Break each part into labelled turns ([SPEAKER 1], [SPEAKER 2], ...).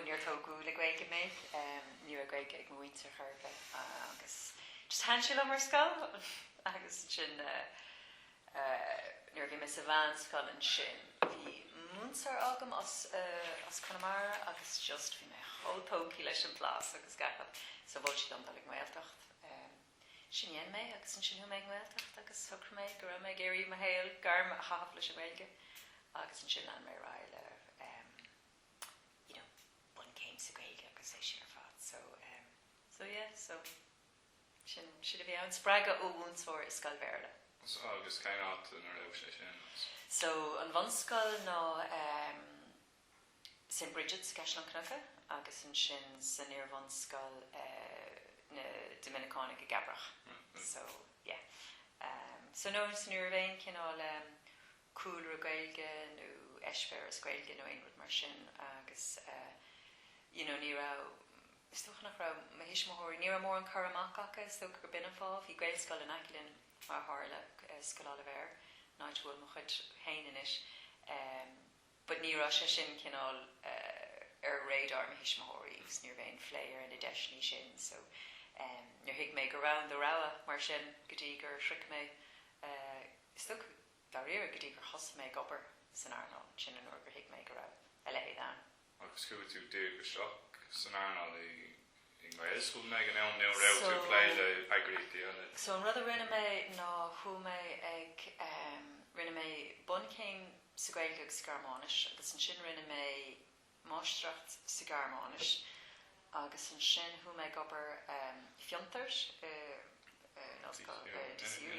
[SPEAKER 1] Níor tógadh le Gaeilge mé, ní raibh Gaeilge ag mo mhuintir chor ar bith agus just thaitin sí liom ar scoil agus ansin nuair a bhí mé sa mheánscoil ansin bhí múinteoir agam as Conamara agus just bhí mé chomh tógtha leis an mblas agus gach rud so mhol sí dom dul ag an nGaeltacht. Sin a rinne mé agus ansin chuaigh mé ag an nGaeltacht agus shocraigh mé go raibh mé ag iarraidh mo shaol, gairm a chaitheamh leis an nGaeilge agus ansin lean mé ar aghaidh le you know bunchéim sa Ghaeilge agus é sin ar fad so em. So yeah so sin sin a bhí ann, spreagadh ó mhúinteoir i scoil Bhéarla. So agus cén
[SPEAKER 2] áit ina raibh sé sin agus? So an
[SPEAKER 1] bhunscoil ná em St Brigid's i gCaisleán Cnucha agus ansin san iarbhunscoil eh na Doiminiceánaigh i gCabrach Right right. so yeah em so no so ní raibh aon cineál em cúlra Gaeilge nó eispéireas Gaeilge nó aon rud mar sin agus eh you know ní raibh, is dócha nach raibh mo thuismitheoirí, ní raibh mórán cur amach acu, is dócha gur b'in an fáth, bhí Gaelscoil in aice linn mar a tharla, eh Scoil Oilibhéir, an áit a bhfuil mo chuid féin anois, em but ní raibh sé sin cineál eh ar radar mo thuismitheoirí agus ní raibh aon phlé ar na deiseanna sin so em níor thuig mé go raibh ann don rogha mar sin go dtí gur shroich mé eh is dócha dháiríre go dtí gur thosaigh mé ag obair san earnáil, sin an uair gur thuig mé go raibh a leithéid ann. Agus chuaigh tú
[SPEAKER 2] díreach isteach san earnáil i nGaelscoileanna ag an am, nó raibh tú ag plé le heagraíochtaí eile? So an rud a rinne mé
[SPEAKER 1] ná chuaigh mé ag em. rinne mé bunchéim sa Ghaeilge agus Gearmáinis agus ansin rinne mé. máistreacht sa Ghearmáinis, agus ansin chuaigh mé ag obair i bhFiontar in ollscoil DCU,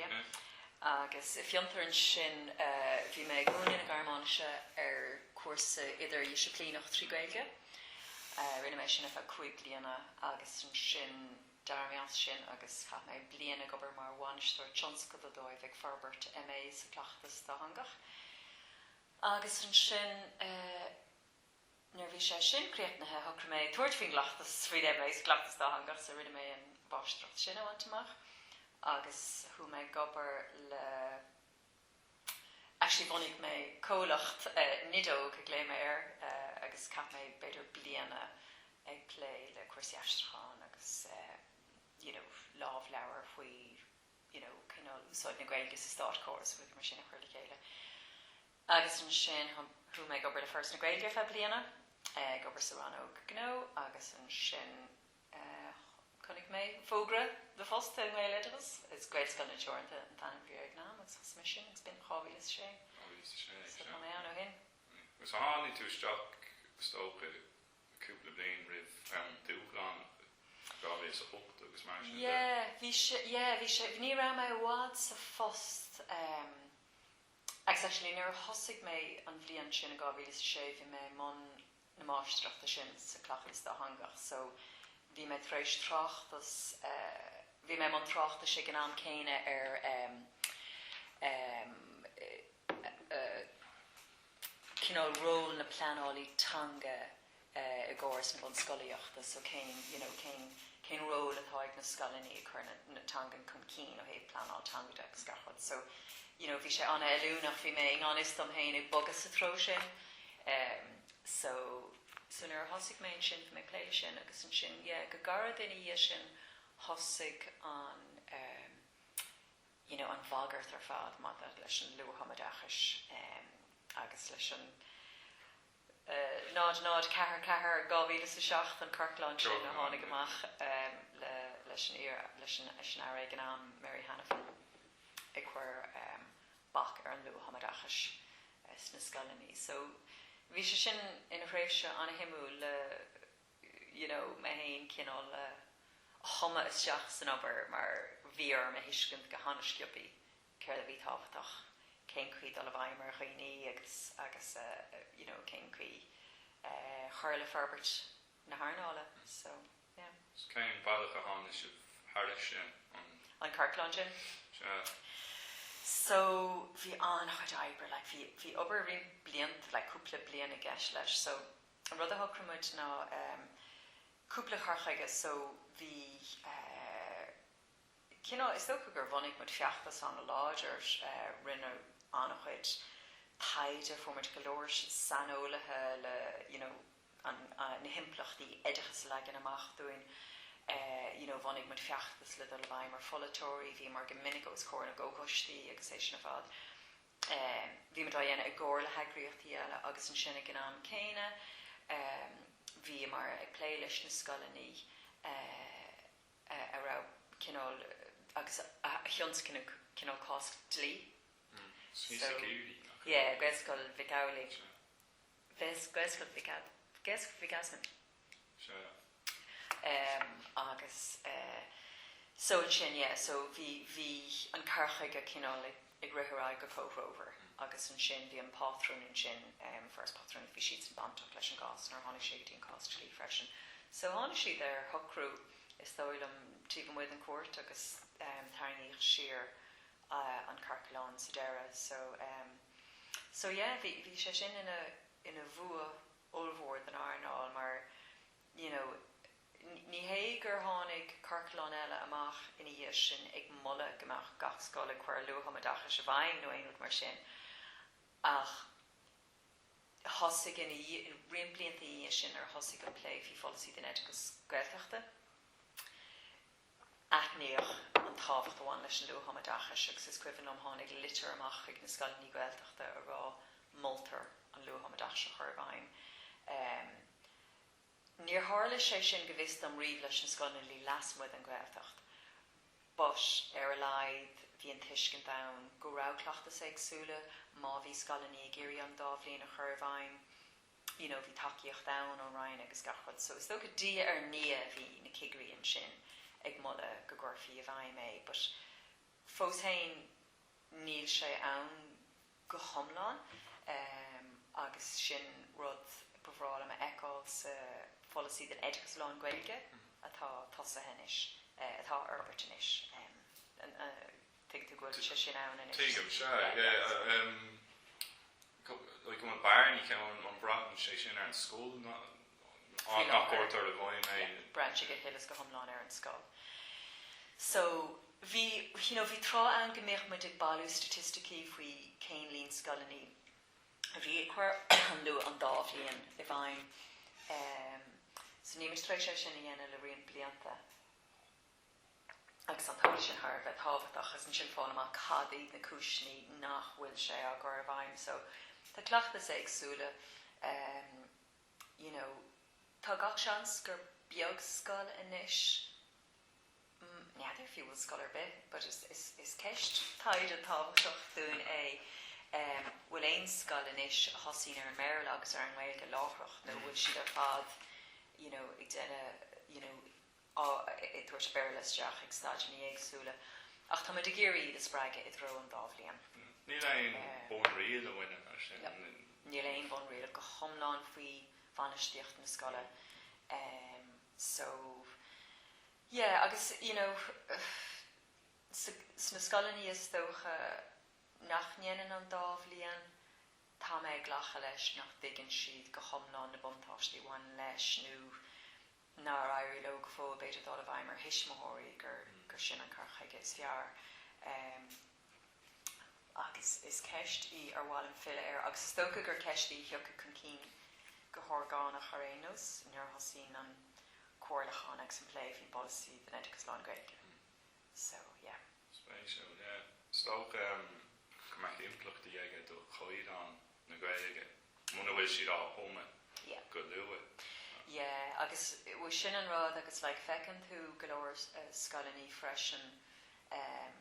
[SPEAKER 1] agus i bhFiontar ansin bhí mé ag múineadh na Gearmáinise ar chúrsa idirdhisciplíneach trí Ghaeilge. Rinne mé sin ar feadh cúig bliana agus ansin d'éirigh mé as sin agus chaith mé bliain ag obair mar bhainisteoir tionscadal dóibh ag forbairt MA sa Chleachtas Dátheangach. Agus ansin, nuair a bhí sé sin críochnaithe, shocraigh mé tabhairt faoin gcleachtas faoin MA sa chleachtas dátheangach, so rinne mé an mháistreacht sin a bhaint amach agus chuaigh mé ag obair le, actually bhunaigh mé comhlacht, Nideog a ghlaoigh mé air, agus chaith mé b'fhéidir bliain ag plé le cúrsaí aistriúcháin agus you know lámhleabhair faoi you know cineál úsáid na Gaeilge sa státchóras, rudaí mar sin a chur le chéile. Agus ansin chuaigh mé ag obair le Foras na Gaeilge ar feadh bliana, ag obair sa rannóg gnó agus ansin chonaic mé fógra do phost i nGaeloideachas, is Gaelscoileanna Teoranta an t-ainm a bhí air ag an am, agus thosaigh mé sin agus b'in 2006, so tá mé ann ó shin. So tháinig tú
[SPEAKER 2] isteach is dócha i cúpla bliain roimh an dúshlán, 2008 agus mar sin
[SPEAKER 1] de. Yeah, bhí sé, yeah, bhí sé, ní raibh mé i bhfad sa phost ehm, agus actually nuair a thosaigh mé an bhliain sin, in 2006, bhí mé i mbun na máistreachta sin sa Cleachtas Dátheangach so bhí mé tar éis tráchtas eh, bhí mé i mbun tráchtais ag an am céanna ar ehm, ehm, eh, eh, cineál ról na pleanála teanga i gcóras na bunscolaíochta, so cén, you know, cén, cén ról atá ag na scoileanna ag cur na, na teangan chun cinn ó thaobh pleanáil teanga de agus gach rud, so, you know, bhí sé an-fheiliúnach, bhí mé i ngan fhios dom féin ag bogadh sa treo sin, em, so, so nuair a thosaigh mé ansin, bhí mé ag plé leis sin agus ansin, yeah, go gairid ina dhiaidh sin thosaigh an, em, you know an bhagairt ar fad maidir leis an luath-thumoideachais agus leis an eh, náid náid ceathair ceathair dhá mhíle is a seacht an ciorclán sin a tháinig amach em le leis an iar leis an leis an aire ag an am Mary Hanafin a chuir em bac ar an luath-thumoideachais eh, sna scoileanna so bhí sé sin ina thréimhse an-shuimiúil le you know, mé fhéin cineál a thumadh isteach san obair mar bhí orm a thuiscint go han-sciobtha céard a bhí tábhachtach, cén chaoi dul i bhfeidhm ar dhaoine agus, agus eh, you know, cén chaoi eh cur le forbairt na hearnála, so, yeah. So cén bealach
[SPEAKER 2] a tháinig sibh thairis sin, an. an
[SPEAKER 1] ciorclán sin? Sea. So bhí an-chuid oibre, like bhí, bhí obair roinnt blianta, like cúpla bliain i gceist leis, so An rud a shocraigh muid ná cúpla cur chuige so bhí cineál, is dócha gur bhunaigh muid feachtas an-láidir, rinne an-chuid taighde, fuair muid go leor saineolaithe le you know na himpleachtaí oideachas a leagan amach dúinn, you know bhunaigh muid feachtas le dul i bhfeidhm ar pholaiteoirí, bhíomar go minic os comhair na gcomhchoistí agus é sin ar fad. Bhí muid á dhéanamh i gcomhar le heagraíochtaí eile agus ansin ag an am céanna bhíomar ag plé leis na scoileanna a raibh cineál, agus a thionscnamh cineál cás dlí. Gaelscoil Mhic Amhlaigh. Bheas Gaelscoil Mhic, Gaelscoil Mhic Easmainn Sure, em agus eh so ansin yeah so bhí, bhí an cur chuige cineál ag, ag rith ar aghaidh go comhthreomhar agus ansin bhí an pátrún ansin em Foras Pátrúnachta bhí siadsan bainteach leis an gcás nuair a tháinig sé go dtí an cás dlí freisin so tháinig siad ar shocrú is dóigh liom taobh amuigh den chúirt agus em tarraingíodh siar ah an ciorclán sa deireadh so em. So yeah, bhí, bhí sé sin ina, ina bhua ollmhór don earnáil mar, you know, ní hé gur tháinig ciorclán eile amach ina dhiaidh sin ag moladh go mbeadh gach scoil ag cur luath-thumoideachais i bhfeidhm nó aon rud mar sin ach thosaigh ina dhiaidh, roinnt blianta ina dhiaidh sin nuair a thosaigh an plé faoi pholasaí don oideachas Gaeltachta. aithníodh an tábhacht a bhain leis an luath-thumoideachas agus is cuimhin liom tháinig litir amach chuig na scoileanna Gaeltachta ag rá moltar an luath-thumoideachas a chur i bhfeidhm. Níor tharla sé sin go bhfios dom riamh leis na scoileanna a bhí lasmuigh den Ghaeltacht but ar a laghad bhí an tuiscint ann go raibh cleachtais éagsúla má bhí scoileanna ag iarraidh an dá bhliain a chur i bhfeidhm. you know bhí tacaíocht ann ón Roinn agus gach rud so is dócha diaidh ar ndiaidh bhí na cigirí ansin ag moladh go gcuirfí i bhfeidhm é but fós féin níl sé ann go hiomlán ehm agus sin rud ba bhreá liom a fheiceáil sa pholasaí don oideachas lán-Ghaeilge atá tosaithe anois eh atá á fhorbairt anois ehm an eh dtuigeann tú go bhfuil sé sin ann anois? Tuigim, sea, yeah
[SPEAKER 2] ehm. Like an bhfuil barn aici ón an mbraitheann sé sin ar an scoil nach, faoi láthair, gcuirtear i bhfeidhm é? yeah, braitheann sé go huile is go
[SPEAKER 1] hiomlán ar an scoil. So, bhí, you know, bhí tráth ann go mbíodh muid ag bailiú staitisticí faoi cén líon scoileanna a bhí ag cur an luath an dá bhliain i bhfeidhm. Em, so níl muid tar éis é sin a dhéanamh le roinnt blianta. agus bheadh sé sin thar a bheith tábhachtach, agus ansin fáil amach cad iad na cúiseanna nach bhfuil sé á chur i bhfeidhm. So, tá cleachtais éagsúla, you know, tá gach seans gur beag scoil anois, n'fheadar fiú bhfuil scoil ar bith, but is, is, is ceist taighde tábhachtach dúinn é, bhfuil aon scoil anois a thosaíonn ar an mBéarla agus ar an nGaeilge láithreach nó bhfuil siad ar fad, you know, ag déanamh, you know, ag tabhairt Béarla isteach ag staideanna éagsúla, ach táimid ag iarraidh iad a spreagadh i dtreo an dá bhliain. Níl
[SPEAKER 2] aon bhunriail a bhaineann leis sin. Níl aon
[SPEAKER 1] bhunriail go hiomlán faoi bhainistíocht na scoile so yeah agus you know sna scoileanna is dócha nach ndéanann an dá bhliain, tá mé ag glacadh leis nach dtuigeann siad go hiomlán na buntáistí a bhaineann leis nó, nár éirigh leo go fóill, b'fhéidir, dul i bhfeidhm ar thuismitheoirí, gur sin an cur chuige is fearr. Ach is ceist í ar mhaith liom filleadh air agus is dócha gur ceist í a thiocfaidh chun cinn go horgánach ar aon nós nuair a thosaíonn an comhairliúchán agus an plé faoin bpolasaí don oideachas lán-Ghaeilge. So, yeah.
[SPEAKER 2] Spéisiúil, yeah. Is dócha go mbeadh impleachtaí aige do chaighdeán na Gaeilge, muna bhfuil siad á thumadh go luath. Yeah,
[SPEAKER 1] agus sin an rud, agus like feiceann tú go leor scoileannaí freisin em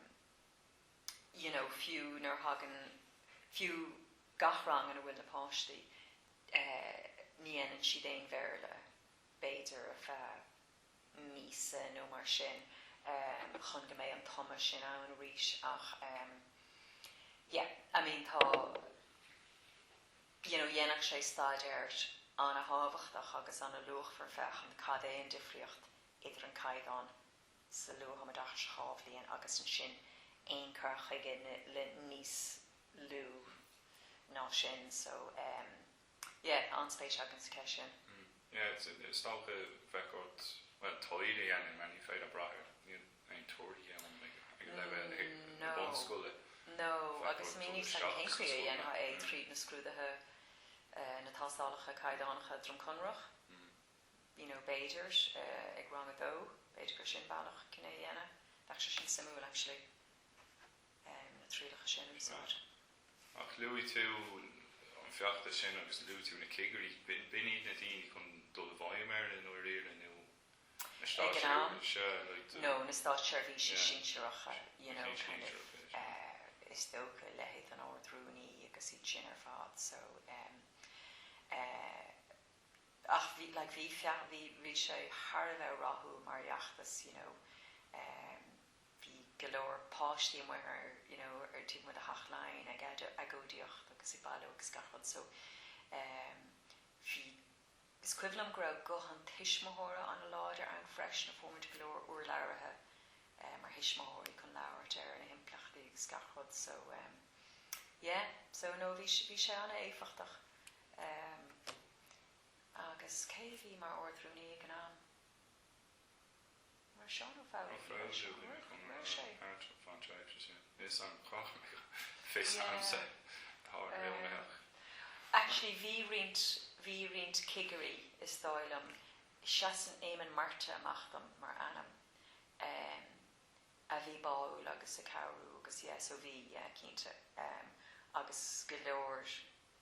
[SPEAKER 1] you know fiú nuair thagann, fiú gach rang ina bhfuil na páistí eh ní dhéanann siad aon Bhéarla b'fhéidir ar feadh, míosa nó mar sin chun go mbeidh an tumadh sin ann arís ach yeah I mean tá you know dhéanfadh sé staidéar an-tábhachtach agus an-luachmhar féachaint cad é an difríocht idir an caighdeán sa luath-thumoideachas sa dá bhliain agus ansin aon chur chuige le níos lú ná sin so um. yeah, an-spéis againn sa cheist sin. Mm, yeah,
[SPEAKER 2] is dócha bheadh ort, bhuel, taighde a dhéanamh mar ní féidir brath ar aon torthaí ann ag leibhéal na bunscoile.
[SPEAKER 1] No, agus
[SPEAKER 2] níl a fhios
[SPEAKER 1] agamsa cén chaoi a ndéanfá é, tríd
[SPEAKER 2] na
[SPEAKER 1] scrúduithe, na tástálacha caighdeánacha Droim Conrach, you know, b'fhéidir, ag rang a dó, b'fhéidir gur sin bealach chun é a dhéanamh. Bheadh sé sin suimiúil, actually. na trialacha sin a úsáid. Ach
[SPEAKER 2] luaigh tú an feachtas sin agus luaigh tú na cigirí. B'in iad na daoine chun dul i bhfeidhm air i ndáiríre nó na státseirbhísigh?
[SPEAKER 1] No, na státseirbhísigh sinsearacha, you know, kind of, is dócha, leithéid an Ard-Rúnaí agus iad sin ar fad, so em. Ach bhí, like, bhí feachtas, bhí sé thar a bheith rathúil mar fheachtas, you know, em. bhí go leor páistí amuigh ar you know ar taobh amuigh de Theach Laighean ag agóidíocht agus ag bailiú agus gach rud so ehm bhí, is cuimhin liom go raibh guth an tuismitheora an-láidir ann freisin, fuair muid go leor urlabhraithe eh mar thuismitheoirí chun labhairt ar na himpleachtaí agus gach rud so ehm yeah so no bhí, bhí sé an-éifeachtach ehm agus cé a bhí mar Ard-Rúnaí ag an am? Mar Seán Ó Foghlú ag Maol Seachnaill ag Maol
[SPEAKER 2] Sé. Is an cath ag Fios Anse atá oiriúnaitheach.
[SPEAKER 1] Actually bhí roinnt, bhí roinnt cigirí is dóigh liom, seasann Éamonn Murtagh amach dom mar ainm, a bhí báúil agus ag cabhrú agus yeah so bhí, yeah cinnte, agus go leor,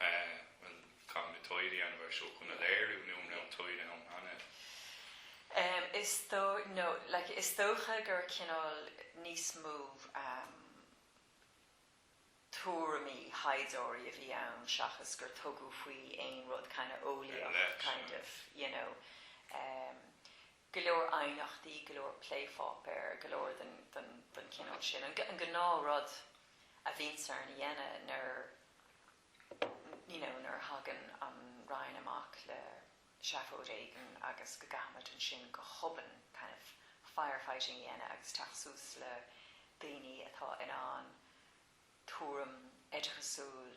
[SPEAKER 2] bhuel, caithfidh na táillí a bheith ann, seo chun a léiriú, nó an raibh an táille ann
[SPEAKER 1] cheana? Is dócha gur cineál níos mó tuairimí thaighdeoirí a bhí ann seachas gur tugadh faoi aon rud kind of eolaíoch kind of, you know. go leor aighneachtaí, go leor plépháipéar, go leor den chineál sin, an gnáth rud a bhíonns orainn a dhéanamh nuair you know nuair a thagann an Roinn amach le seafóid éigin agus go gcaithfimid ansin go hobann kind of firefighting a dhéanamh agus teacht suas le daoine atá in ann tuairim oideachasúil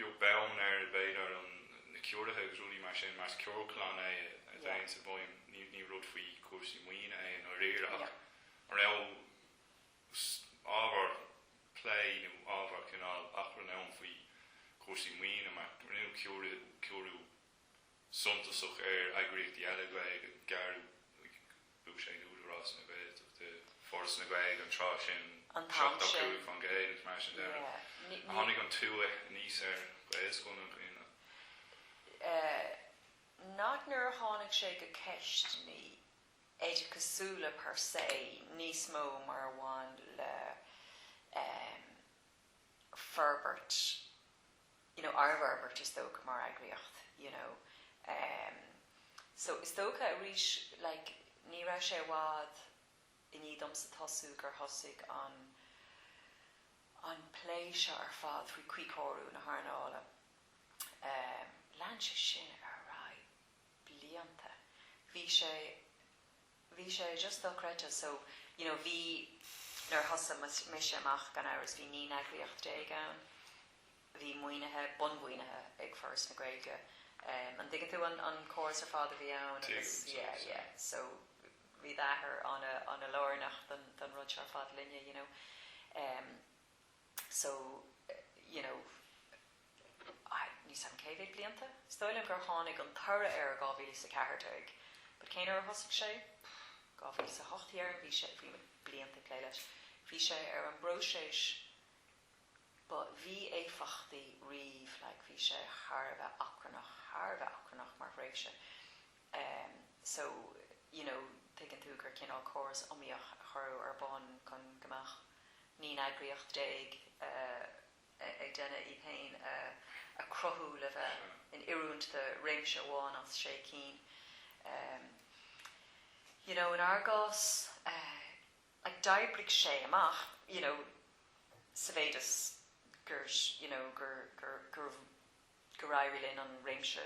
[SPEAKER 2] beag beann ar, b'fhéidir, na ciorruithe agus rudaí mar sin, mar is cur chun cinn é a dhéanann sibh, abraimis, ní rud faoi chúrsaí maoine é i ndáiríre ach an raibh ábhar plé nó ábhar cineál achrainn ann faoi chúrsaí maoine mar rinneadh ciorrú, ciorrú suntasach ar eagraíochtaí eile Gaeilge, gearradh, Thug sé Údarás na Gaeltachta, Foras na Gaeilge an tráth sin, 75 faoin gcéad, mar sin de, a tháinig an tua anuas ar Ghaelscoileanna.
[SPEAKER 1] Nach nuair a tháinig sé go ceisteannaí oideachasúla per se níos mó mar a bhain le forbairt, you know ár bhforbairt is dócha mar eagraíocht you know ehm so is dócha arís like ní raibh sé i bhfad i ndiaidh domsa tosú gur thosaigh an an plé seo ar fad faoi cuíchóiriú na hearnála ehm lean sé sin ar aghaidh blianta bhí sé bhí sé just dochreidte so you know bhí nuair a thosaigh mise amach gan amhras bhí naoi n-eagraíocht déag ann a bhí maoinithe, bunmhaoinithe ag Foras na Gaeilge em an dtuigeann tú an an córas ar fad a bhí ann agus yeah tuigim, tuigim, tuigim yeah so bhí d'athair ana ana lárnach don don rud seo ar fad linne you know em. so you know níl a fhios agam cé mhéad blianta? Is dóigh liom gur tháinig an toradh air i dhá mhíle is a ceathair déag but cén uair a thosaigh sé? Dhá mhíle is a hocht déarfainn, bhí sé, bhí muid blianta ag plé leis, bhí sé ar an bpróiseas ba mhí-éifeachtaí riamh like bhí sé thar a bheith achrannach, thar a bheith achrannach mar thréimhse ehm so you know tuigeann tú gur cineál córas iomaíoch a cuireadh ar bun chun go mbeadh naoi n-eagraíocht déag ag déanamh iad féin a chruthú le bheith in oiriúint do réimse amháin as sé cinn. You know, in ár gcás, like d'oibrigh sé amach, you know, sa mhéid is gur, you know, gur, gur, gur, gur éirigh linn an réimse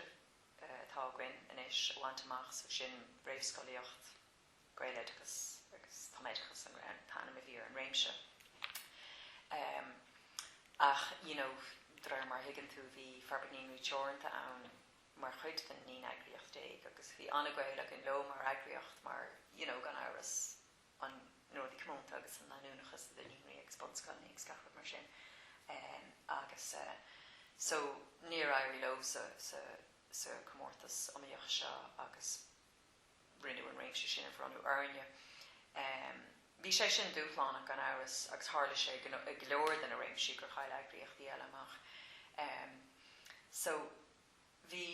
[SPEAKER 1] atá againn anois a bhaint amach, so sin réamhscolaíocht, Gaeloideachas agus Tumoideachas an t-ainm a bhí ar an réimse ach y'know de réir mar a thuigeann tú bhí Forbairt Naíonraí Teoranta ann mar chuid den naoi n-eagraíocht déag agus bhí ana-ghaol againn leo mar eagraíocht mar y'know gan amhras an ndóthain comónta agus an leanúnachas idir naíonraí agus bunscoileanna agus gach rud mar sin agus so níor éirigh leosan sa chomórtas iomaíoch seo agus. rinneadh an réimse sin a bhronnadh orainne. Bhí sé sin dúshlánach, gan amhras, agus tharla sé i go leor de na réimsí gur chaill eagraíochtaí eile amach. So, bhí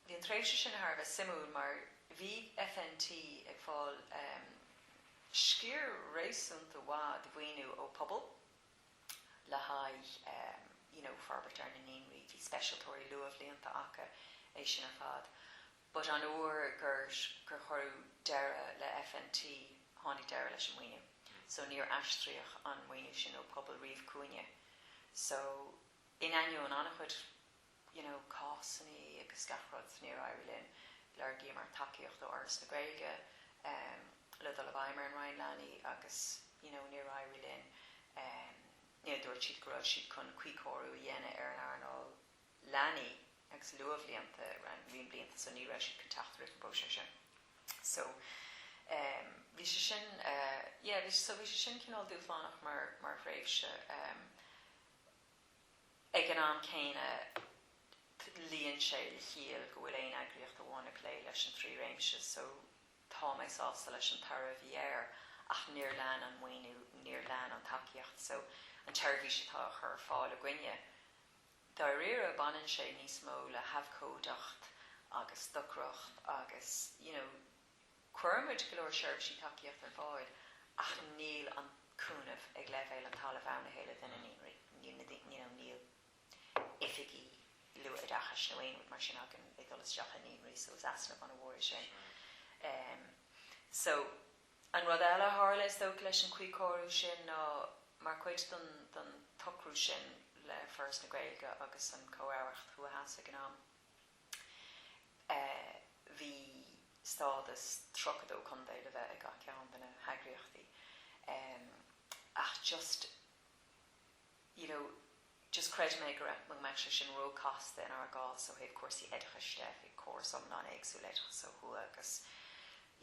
[SPEAKER 1] an tréimhse sin thar a bheith suimiúil mar bhí FNT ag fáil sciar réasúnta maith de mhaoiniú ó Pobal le haghaidh you know forbairt ar na naíonraí, bhí speisialtóirí luathbhlianta acu, é sin ar fad. But an uair gur cuireadh deireadh le FNT tháinig deireadh leis an maoiniú so níor aistríodh an maoiniú sin ó Pobal riamh chugainne. So in ainneoin an-chuid you know cásannaí agus gach rud níor éirigh linn, lorgaíomar tacaíocht ó Fhoras na Gaeilge em le dul i bhfeidhm ar an Roinn Leanaí agus you know níor éirigh linn em you know dúirt siad go raibh siad chun cuíchóiriú a dhéanamh ar an earnáil leanaí agus luathbhlianta roinnt blianta so ní raibh siad chun teacht roimh an bpróiseas sin so em bhí sé sin eh yeah bhí so bhí sé sin cineál dúshlánach mar mar thréimhse em ag an am céanna t' luíonn sé le ciall go bhfuil aon eagraíocht amháin ag plé leis an trí réimse so tá mé sásta leis an toradh a bhí air ach níor lean an maoiniú níor lean an tacaíocht so an tseirbhís atá á chur ar fáil againne Dáiríre, baineann sé níos mó le habhcóideacht agus stocaireacht agus, you know, cuireann muid go leor seirbhísí tacaíochta ar fáil ach níl an cúnamh ag leibhéal an talaimh ann a thuilleadh do na naíonraí, níl na daoine, you know, níl oifigigh luathoideachais nó aon rud mar sin againn ag dul isteach i naíonraí so is easnamh ana-mhór é sin. So. An rud eile a tharla, is dócha, leis an chuíchóiriú sin ná, mar chuid don tsocrú sin le Foras na Gaeilge agus an Chomh-Aireacht Thuaidh-Theas ag an am, bhí stádas 32 contae le bheith ag gach ceann de na heagraíochtaí, ach just. you know just chreid mé go raibh, go mbeadh sé sin róchasta inár gcás ó thaobh cúrsaí oideachais de, bhí córas iomlán éagsúil oideachais ó thuaidh agus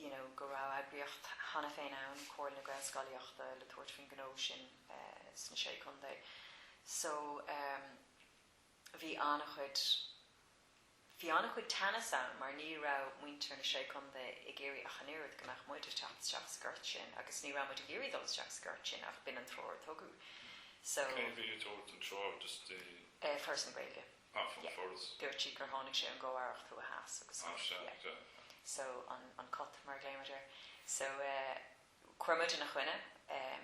[SPEAKER 1] you know go raibh eagraíocht cheana féin ann, Comhairle na Gaelscolaíochta, le tabhairt faoin ngnó sin sna Sé Chontae. So, um bhí an-chuid. Bhí an-chuid teannas ann mar ní raibh muintir na Sé Contae ag iarraidh ach an oiread go mbeadh muid ag teacht isteach sa ghort sin agus ní raibh muid ag iarraidh dul isteach sa ghort sin ach b'in an treoir a tugadh so Cé a bhí ag tabhairt an treoir daoibhse? Foras na Gaeilge. Ah, an Foras. Yeah. Dúirt siad gur tháinig sé ón gComh-Aireacht Thuaidh Theas agus gur, yeah. Ah, sea, yeah, yeah. So, an, an CATT mar a ghlaoimid air. So, eh, chuir muid ina choinne, eh,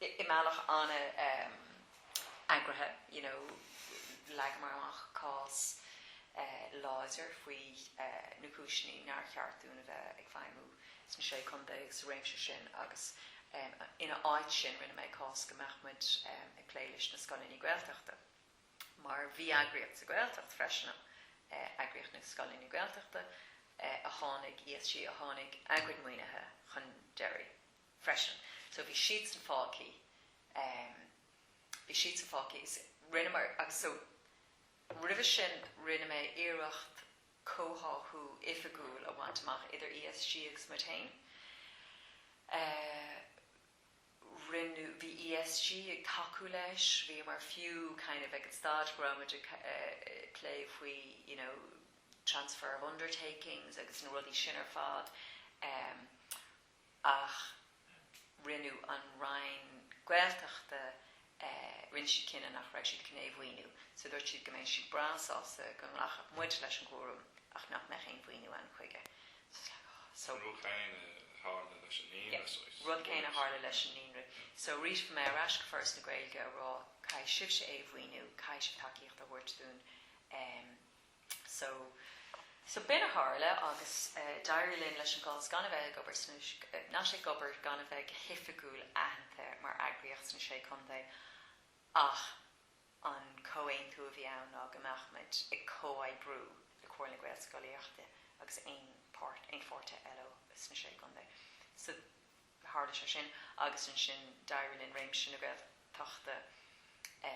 [SPEAKER 1] i mbealach an-eagraithe, you know leagamar amach cás láidir faoi na cúiseanna nár cheart dúinn a bheith ag feidhmiú sna Sé Chontae agus sa réimse sin agus ina áit sin rinne mé cás go mbeadh muid ag plé leis na scoileanna Gaeltachta mar bhí eagraíocht sa Ghaeltacht freisin ann, Eagraíocht na Scoileanna Gaeltachta a tháinig, ESG a tháinig, a gcuid maoinithe chun deiridh. freisin so bhí siadsan fágthaí, em bhí siadsan fágthaí is rinneamar agus so roimhe sin rinne mé iarracht comhtháthú oifigiúil a bhaint amach idir ESG agus muid féin, eh rinneadh, bhí ESG ag tacú leis, bhíomar fiú kind of ag an staid go raibh muid ag eh plé faoi you know transfer of undertakings agus na rudaí sin ar fad, em. ach rinne an Roinn Gaeltachta, rinne siad cinneadh nach raibh siad chun é a mhaoiniú. So dúirt siad go mbeadh siad breá sásta go nglacfadh muid leis an gcúram ach nach mbeadh aon mhaoiniú ann chuige. So it's like, oh, so. An rud
[SPEAKER 2] céanna a tharla leis an naíonra, so it's. Yeah, rud céanna a
[SPEAKER 1] tharla leis an naíonra. So arís, bhí mé ar ais go Foras na Gaeilge a rá, caithfidh sibhse é a mhaoiniú, caithfidh sibh tacaíocht a thabhairt dúinn. So. So b'in a tharla agus d'éirigh linn, leis an gcás gan a bheith ag obair sna, sna Sé, ag obair, gan a bheith go hoifigiúil aitheanta mar eagraíocht sna Sé Chontae ach an comhaontú a bhí ann ná go mbeadh muid ag comhoibriú le Comhairle na Gaelscolaíochta agus aon, aon pháirtithe eile sna Sé Chontae. So. Tharla sé sin agus ansin d'éirigh linn réimse na Gaeltachta a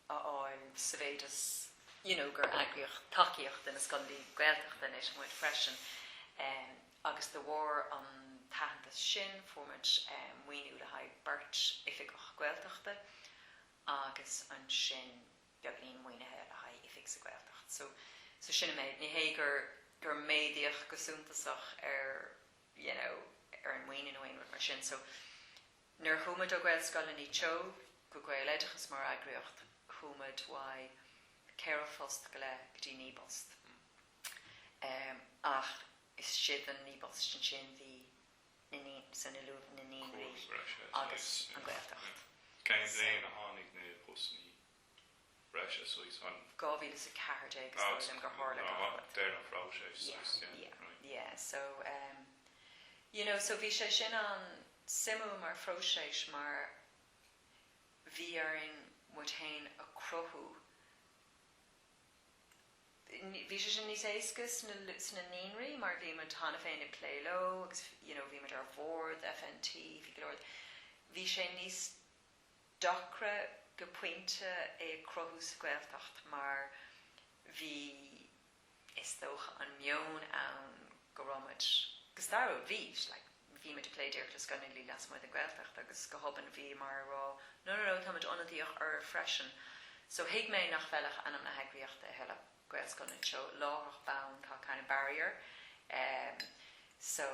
[SPEAKER 1] fháil sa mhéid is, you know, gur eagraíodh tacaíocht do na scoileanna Gaeltachta uainne muid freisin agus de bharr an t-aitheantas sin fuair muid maoiniú le haghaidh beirt oifigeach Gaeltachta agus ansin beagainín maoinithe le haghaidh oifig sa Ghaeltacht so, so sin an méid. Ní hé gur méadaíodh go suntasach ar. you know ar an maoiniú nó aon rud mar sin so nuair a chuaigh muid ó Gaelscoileanna Teo go Gaeloideachas mar eagraíocht chuaigh muid uaidh ceithre phost go leith go dtí naoi bpost ehm ach istigh sa naoi bpost ansin bhí na naí so na luath, na naíonraí agus an Gaeltacht. Cén bhliain
[SPEAKER 2] a tháinig na postannaí? breise suas chun. 2014 is dóigh liom gur
[SPEAKER 1] tharla gach rud. Ach deireadh an
[SPEAKER 2] phróiseas suas, yeah, right.
[SPEAKER 1] Yeah, so ehm you know so bhí sé sin an-suimiúil mar phróiseas mar bhí orainn muid fhéin a chruthú, bhí sé sin níos éasca sna naíonraí mar bhí muid cheana féin ag plé leo agus you know bhí muid ar bhord FNT, bhí go leor, bhí sé níos Deacra go pointe é a chruthú sa Ghaeltacht mar bhí, is dócha, an meon ann go raibh muid, go stairiúil, bhí, bhí muid ag plé díreach le scoileanna lasmuigh den Ghaeltacht agus go hobann bhíomar ag rá no, no, no, tá muid ionadaíoch oraibh freisin. So thuig mé nach bhfeilfeadh ainm na heagraíochta a thuilleadh, Gaelscoileanna Teo, láithreach bonn tá kind of barrier. So.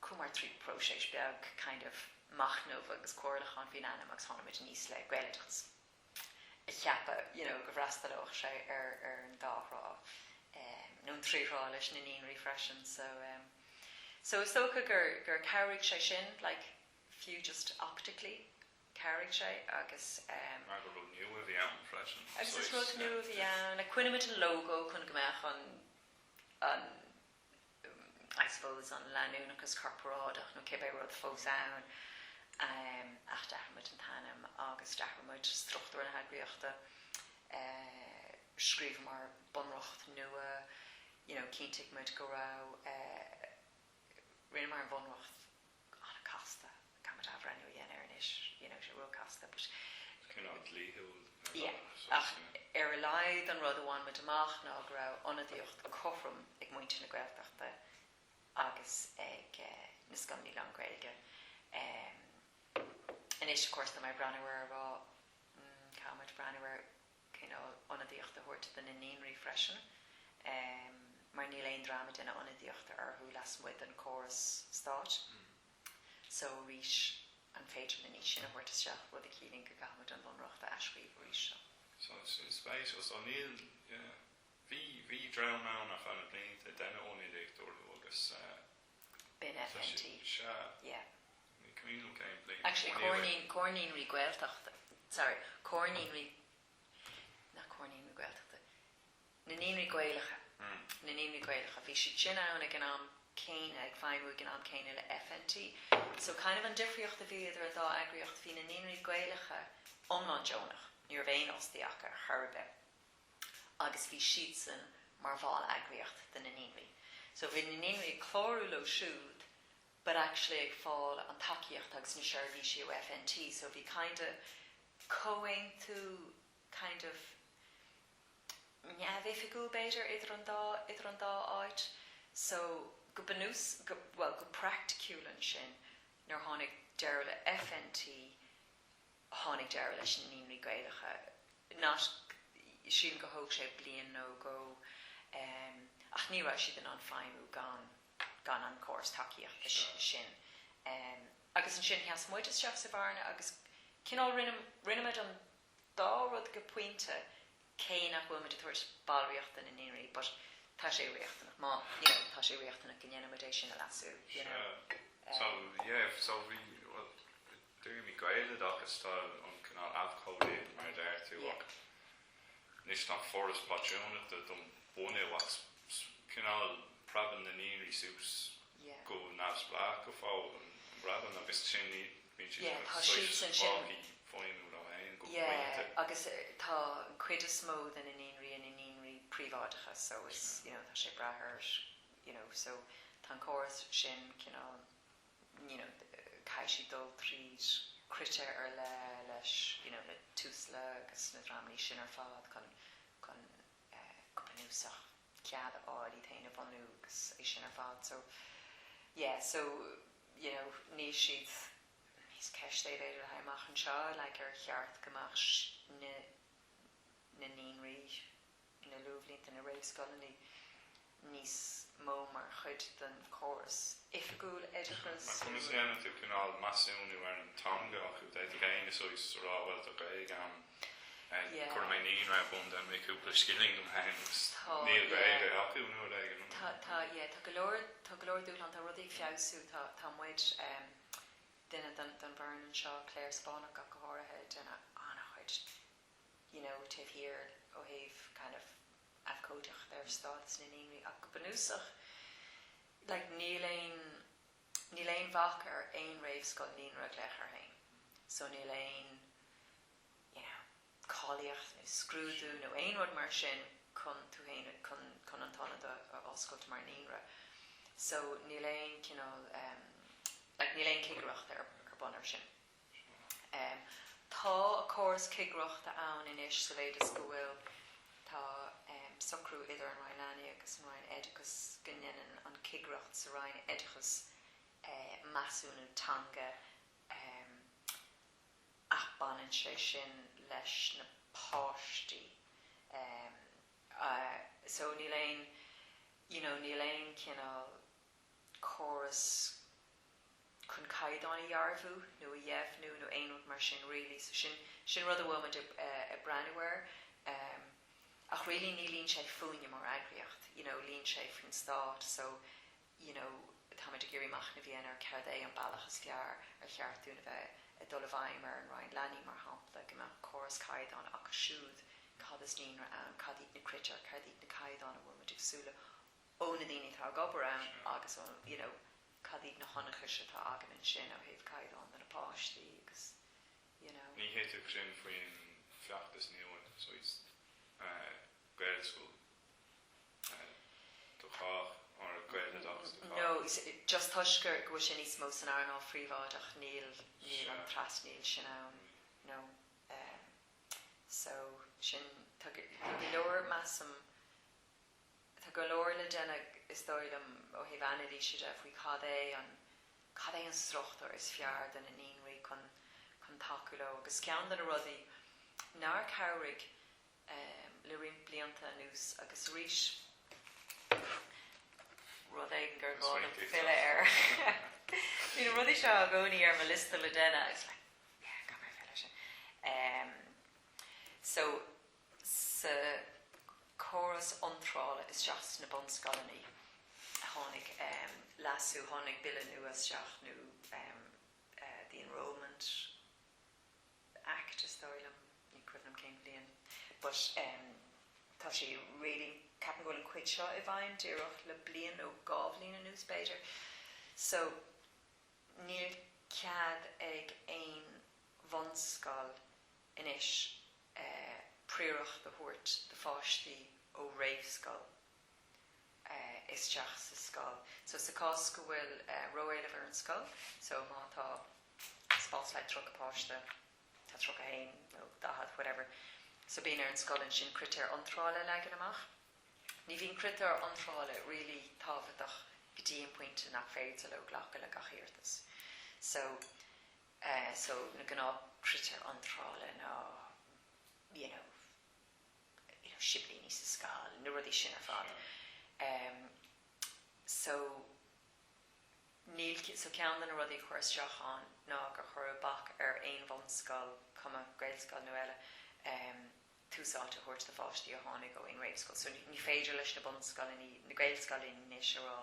[SPEAKER 1] Chuamar trí próiseas beag, kind of, machnamh agus comhairliúcháin faoin ainm agus tháinig muid aníos le Gaeloideachas, ag ceapadh, you know, go bhfreastalódh sé ar an dá thrá, nó an trí thrá leis na naíonraí freisin, so, so is dócha gur, gur chabhraigh sé sin, like, fiú just optically, chabhraigh sé agus. Mar gur rud
[SPEAKER 2] nua a bhí ann freisin, saghas. Agus is rud nua a
[SPEAKER 1] bhí ann, like, choinnigh muid an logo chun go mbeadh an, an. I suppose an leanúnachas corparáideach nó cibé rud fós ann, ach d'athraigh muid an t-ainm agus d'athraigh muid struchtúr na heagraíochta, scríobhamar bunreacht nua, you know, chinntigh muid go raibh, rinneamar an bhunreacht. an-chasta, caithfidh muid athbhreithniú a dhéanamh air anois, you know, tá sé róchasta but. is cineál dlíthiúil ar bhealach, yeah, so, yeah. ach ar a laghad an rud a bhain muid amach ná go raibh ionadaíocht cothrom ag muintir na Gaeltachta agus ag na scoileanna lán-Ghaeilge. Anois, of course, tá mé ag breathnú air ag rá, mm, caithfidh muid breathnú ar. cineál ionadaíocht a thabhairt do na naíonraí freisin mar níl aon dream ag déanamh ionadaíocht orthu lasmuigh den córas stáit so arís an féidir linn iad sin a thabhairt isteach rud a chiallaíonn go gcaithfidh muid an Bunreacht a athscríobh arís seo. So
[SPEAKER 2] sin spéis so níl yeah bhí bhí dream ann a chaith na blianta ag déanamh ionadaíocht orthu agus eh, B'in
[SPEAKER 1] FNT. Tá sé, sea.
[SPEAKER 2] Yeah. Ní coinín an chéad bhliain. Actually, Comhar Naíon, Comhar
[SPEAKER 1] Naíonraí Gaeltachta. Sorry, Comhar Naíonraí, nach Comhar Naíonraí Gaeltachta, na naíonraí Gaelacha, na naíonraí Gaelacha, bhí siad sin ann ag an am céanna, ag feidhmiú ag an am céanna le FNT. So, kind of an difríocht a bhí idir an dá eagraíocht, bhí na naíonraí Gaelacha iomlán deonach, ní raibh aon fhostaí acu ar chor ar bith. agus bhí siadsan mar bhalleagraíocht do na naíonraí. So bhí na naíonraí ag clárú leo siúd but actually ag fáil an tacaíocht agus na seirbhísí ó FNT so bhí kinda comhaontú kind of neamhoifigiúil b'fhéidir idir an dá, idir an dá áit. So go bunús, go, bhuel go praiticiúil ansin nuair a tháinig deireadh le FNT, tháinig deireadh leis na Naíonraí Gaelacha, nach Sílim gur thóg sé bliain nó dhó ach ní raibh siad in ann feidhmiú gan an córas tacaíochta sin agus ansin sheas muid isteach sa bhearna agus cineál rinne muid an dá rud go pointe, cé nach bhfuil muid ag tabhairt ballraíocht do na naíonraí but tá sé riachtanach má, you know, tá sé riachtanach go ndéanfaidh muid é sin a leasú, you know. Sea. So, Um. yeah,
[SPEAKER 2] so bhí, bhuel, dúirt mé Gaeloid ach tá an cineál abhcóidíocht mar a deir tú Yeah. ach anois nach Foras Pátrúnachta don bunú ach s- s- cineál preabann na naíonraí suas Yeah. go neamhspleách go fóill, an bpreabann siad agus sin í, Bíonn siad
[SPEAKER 1] seo saghas fágtha fúthu féin
[SPEAKER 2] go pointe. Yeah,
[SPEAKER 1] agus tá an cuid is mó de na naíonraí ina naíonraí príobháideacha so is, you know, tá sé ag brath ar, you know, so tá an córas sin cineál, you know, caithfidh siad dul tríd critéir ar leith leis, you know, le Tusla agus na dreamannaí sin ar fad chun, chun eh, go bunúsach cead a fháil iad féin a bhunú agus é sin ar fad so, yeah, so. you know, níl siad níos ceist é b'fhéidir le haghaidh amach anseo, like, ar cheart go mbeadh na, na naíonraí, na luathbhlianta, na réamhscoileannaí níos mó mar chuid den chóras oifigiúil oideachas? Conas a dhéanann tú
[SPEAKER 2] cineál measúnú ar an teanga acu? D'fhéadfadh éinne suí 's a rá bhuel tá Gaeilge ann. Chuir mé naíonra ar bun dom le cúpla scilling dom féin agus níl Gaeilge acu nó rud éigin. Tá, tá, yeah, tá go leor,
[SPEAKER 1] tá go leor dúshlán, tá rudaí ag feabhsú, tá, tá muid, em, duine den, den bhfoireann anseo, Clare Spáinneach ach go háirithe, ag déanamh an-chuid, you know, taobh thiar ó thaobh kind of abhcóideacht ar stádas na naíonraí ach go bunúsach, like, níl aon. Níl aon bhac ar aon réamhscoil naíonra a ghlaoch air féin so níl aon, you know, cáilíocht nó scrúdú nó aon rud mar sin chun tú féin a, chun, chun an t-ionad a oscailt mar naíonra. So níl aon cineál, like, níl aon cigireacht ar bun ar sin. Tá córas cigireachta ann anois sa mhéid is go bhfuil, tá socrú idir an Roinn Leanaí agus an Roinn Oideachais go ndéanann an chigireacht sa Roinn Oideachais measúnú teanga, ach baineann sé sin leis na páistí so níl aon, you know, níl aon cineál, córas chun caighdeáin a dhearbhú nó a dheimhniú nó aon rud mar sin really so sin sin rud a bhfuil muid ag breathnú air ach really ní luíonn sé fúinne mar eagraíocht you know luíonn sé faoin stát so you know táimid ag iarraidh machnamh a dhéanamh ar céard é an bealach is fearr ar cheart dúinn a bheith ag dul i bhfeidhm ar an Roinn Leanaí mar shampla go mbeadh córas caighdeán acu siúd cad is naíonra ann cad iad na critéir cad iad na caighdeáin a bhfuil muid ag súil leo ó na daoine atá ag obair ann agus ó you know cad iad na hionchais atá againn ansin ó thaobh caighdeán do na páistí agus you know. Ní
[SPEAKER 2] thitfeadh sin faoin feachtas nua so is Gaelscoil do chách or Gaeloideachas do chách.
[SPEAKER 1] No, just toisc go bhfuil sin níos mó san earnáil phríobháideach níl níl an trasnaíl sin ann no so sin tá go leor measaim, Tá go leor le déanamh, is dóigh liom, ó thaobh anailíse de faoi cad é an, cad é an struchtúr is fearr do na naíonraí chun, chun tacú leo. Agus ceann de na rudaí nár chabhraigh le roinnt blianta anuas, agus arís, rud éigin gur gá dom filleadh air, bhí na rudaí seo i gcónaí ar mo liosta le déanamh agus like yeah, gá dom filleadh ar sin. So. sa chóras iontrála isteach sna bunscoileanna tháinig leasú, tháinig bille nua isteach nó the enrolment act is dóigh liom, ní cuimhin liom cén bhliain but tá sé really, ceapaim go bhfuil an cuid seo i bhfeidhm díreach le bliain nó dhá bhliain anuas b'fhéidir so níl cead ag aon bhunscoil, anois prióireacht a thabhairt do pháistí ó réamhscoil isteach sa scoil. So sa chás go bhfuil ró-éileamh ar an scoil, so má tá spás le 30 páiste, tá 30 a haon, nó 40, whatever, so bíonn ar an scoil ansin critéir iontrála a leagan amach. Ní bhíonn critéir iontrála really tábhachtach go dtí an pointe nach féidir leo glacadh le gach iarratas. So. eh so na gnáth critéir iontrála ná you know you know siblíní sa scoil na rudaí sin ar fad em so níl so ceann de na rudaí a cuireadh isteach ann ná gur cuireadh bac ar aon bhunscoil, cuma Gaelscoil nó eile, em tús áite a thabhairt do pháistí a tháinig ó aon réamhscoil so ní féidir leis na bunscoileanna, na Gaelscoileanna anois a rá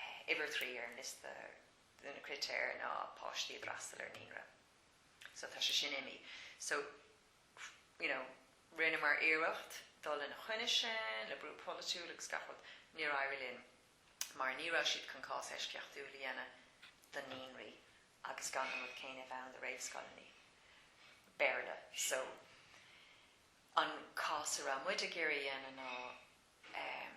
[SPEAKER 1] eh uimhir a trí ar an liosta de na critéir ná páistí a d'fhreastail ar naíonra so tá sé sin imí so you know rinneamar iarracht dul ina choinne sin le brú polaitiúil agus gach rud, níor éirigh linn mar ní raibh siad chun cás eisceachtúil a dhéanamh do naíonraí agus gan an rud céanna a bheith ann do réamhscoileanna Béarla so an cás a raibh muid ag iarraidh a dhéanamh ná ehm.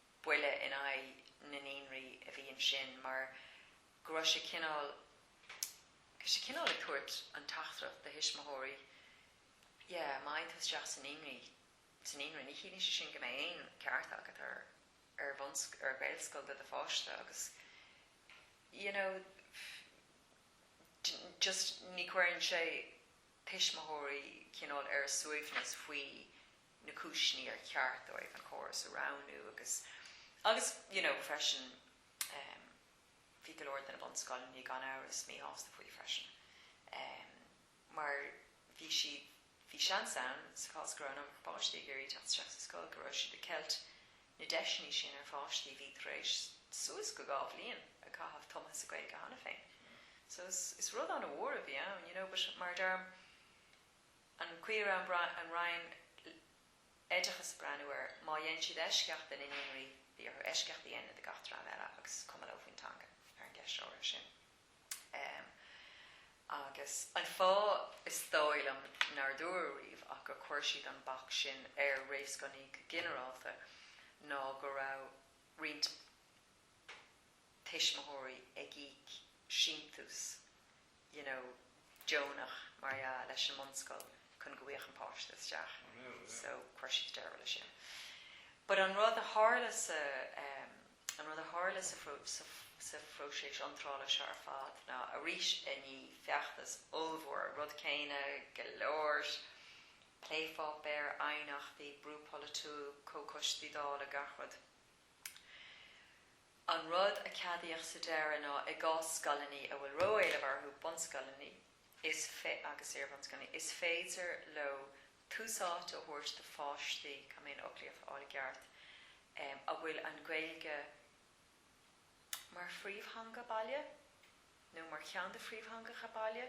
[SPEAKER 1] buille in aghaidh na naíonraí a bhí ansin mar go raibh sé cineál, bhí sé cineál ag tabhairt an teachtaireacht do thuismitheoirí yeah, má fhaigh tú isteach sa naíonraí, sa naíonra, ní chiallaíonn sé sin go mbeidh aon ceart agat ar, ar bhunsc, ar Ghaelscoil do do pháiste agus you know, just ní chuireann sé tuismitheoirí cineál ar a suaimhneas faoi na cúiseanna ar cheart dóibh an córas a roghnú agus, agus, you know, freisin, em, bhí go leor de na bunscoileanna, gan amhras, míshásta faoi freisin, em, mar bhí siad, bhí seans ann, sa chás go raibh an iomarca páistí ag iarraidh teacht isteach sa scoil, go raibh siad ag ceilt na deiseanna sin ar pháistí a bhí tar éis suas go dhá bhliain a chaitheamh tumtha sa Ghaeilge cheana féin. So is, is rud an-mhór a bhí ann, you know, but mar a deirim, An chaoi a raibh an Roinn Oideachais ag breathnú air, má dhéan siad eisceacht de na naíonraí, bhí orthu eisceacht a dhéanamh de gach dream eile agus is cuma leo faoin teanga, ar an gceist áirithe sin. Agus an fáth, is dóigh liom, nár dúradh riamh ach gur chuir siad an bac sin ar réamhscoileanna go ginearálta ná go raibh roinnt, tuismitheoirí ag íoc síntiús you know deonach mar dhea leis an mbunscoil chun go bhfuigheadh an páiste isteach so chuir siad deireadh leis sin. But an rud a tharla sa em an rud a tharla sa sa phróiseas iontrála seo ar fad ná arís i ndiaidh feachtas ollmhór rud céanna go leor plépháipéar, aighneachtaí, brú polaitiúil, comhchoistí Dála, gach rud. An rud a ceadaíodh sa deireadh ná i gcás scoileanna a bhfuil ró-éileamh orthu, bunscoileanna is agus iarbhunscoileanna, is féidir leo tús áite a thabhairt do pháistí, go mbeinn an fhoclaíocht a fháil i gceart? a bhfuil an Ghaeilge mar phríomhtheanga baile, nó mar cheann de phríomhtheangacha baile,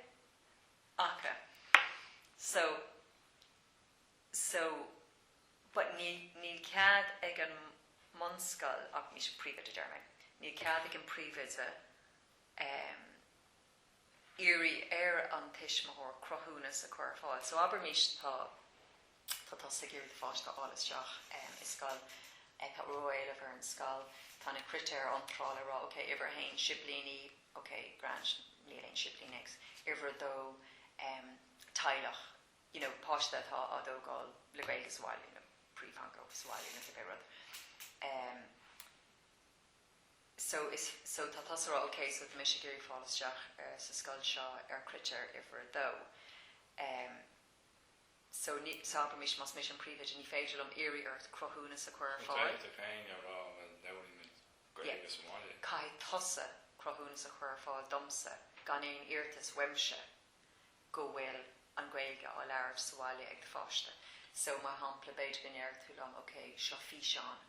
[SPEAKER 1] acu. So. So, but níl, níl cead ag an mbunscoil ach, ní sé, an príomhoide, déarfaimid, níl cead ag an príomhoide ehm iarraidh ar an tuismitheoir cruthúnas a chur ar fáil. So abraimis tá, tá tusa ag iarraidh do pháiste a fháil isteach ehm i scoil, tá ró-éileamh ar an scoil, tá na critéir iontrála ag rá ok uimhir a haon siblíní, ok grand níl aon siblín agat uimhir a dó ehm teaghlach, you know páiste atá á thógáil le Gaeilge sa bhaile you know príomhtheanga sa bhaile nó cibé rud em so is so tá tusa ag rá ok so tá mise ag iarraidh fáil isteach ar sa scoil seo ar critéir uimhir a dó em so mar shampla mise más mise an príomhoide ní féidir liom iarraidh ort cruthúnas a chur ar fáil. Tá tú féin a rá bhuel labhraíonn muid Gaeilge sa bhaile. Caithfidh tusa cruthúnas a chur ar fáil domsa gan aon iarratas uaimse go bhfuil an Ghaeilge á labhairt sa bhaile ag do pháiste. So, mar shampla, b'fhéidir go ndéarfadh tú liom, OK, seo físeán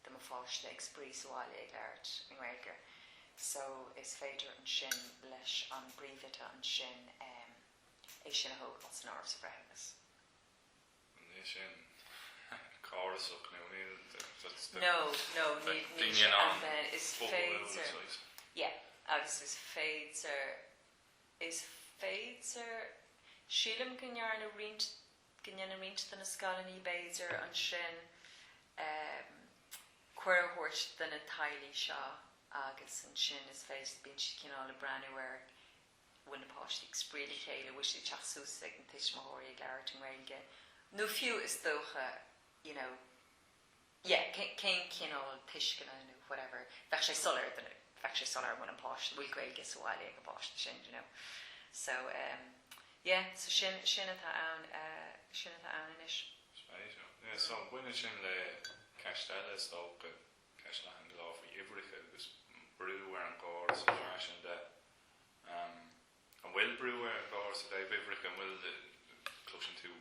[SPEAKER 1] de mo pháiste ag spraoi sa bhaile ag labhairt i nGaeilge. So, is féidir ansin leis an bpríomhoide ansin em é sin a thógáil san áireamh sa bhreithiúnas.
[SPEAKER 2] Níl sin córasach nó
[SPEAKER 1] níl that's the No, no, agus is féidir, Is féidir. Sílim go ndearna roinnt, go ndearna roinnt de na scoileannaí b'fhéidir ansin eh cuireadh a thabhairt do na teaghlaigh seo agus ansin is féidir, bíonn siad cineál ag breathnú ar, bhfuil na páistí ag spraoi le chéile, bhfuil siad ag teacht suas chuig na tuismitheoirí ag labhairt i nGaeilge nó fiú is dócha, you know, yeah cén cineál tuisceana nó whatever bheadh sé soiléir do bheadh sé soiléir an bhfuil an páiste an bhfuil Gaeilge sa bhaile ag an bpáiste sin you know so ehm yeah so sin sin atá ann sin atá ann anois. Spéisiúil. Yeah
[SPEAKER 2] so baineann sin le ceist eile is dócha, ceist leathan go leor faoi uimhreacha agus brú ar an gcóras ar ais ansin de? An bhfuil brú ar an gcóras i dtaobh uimhreacha? An bhfuil, cloiseann tú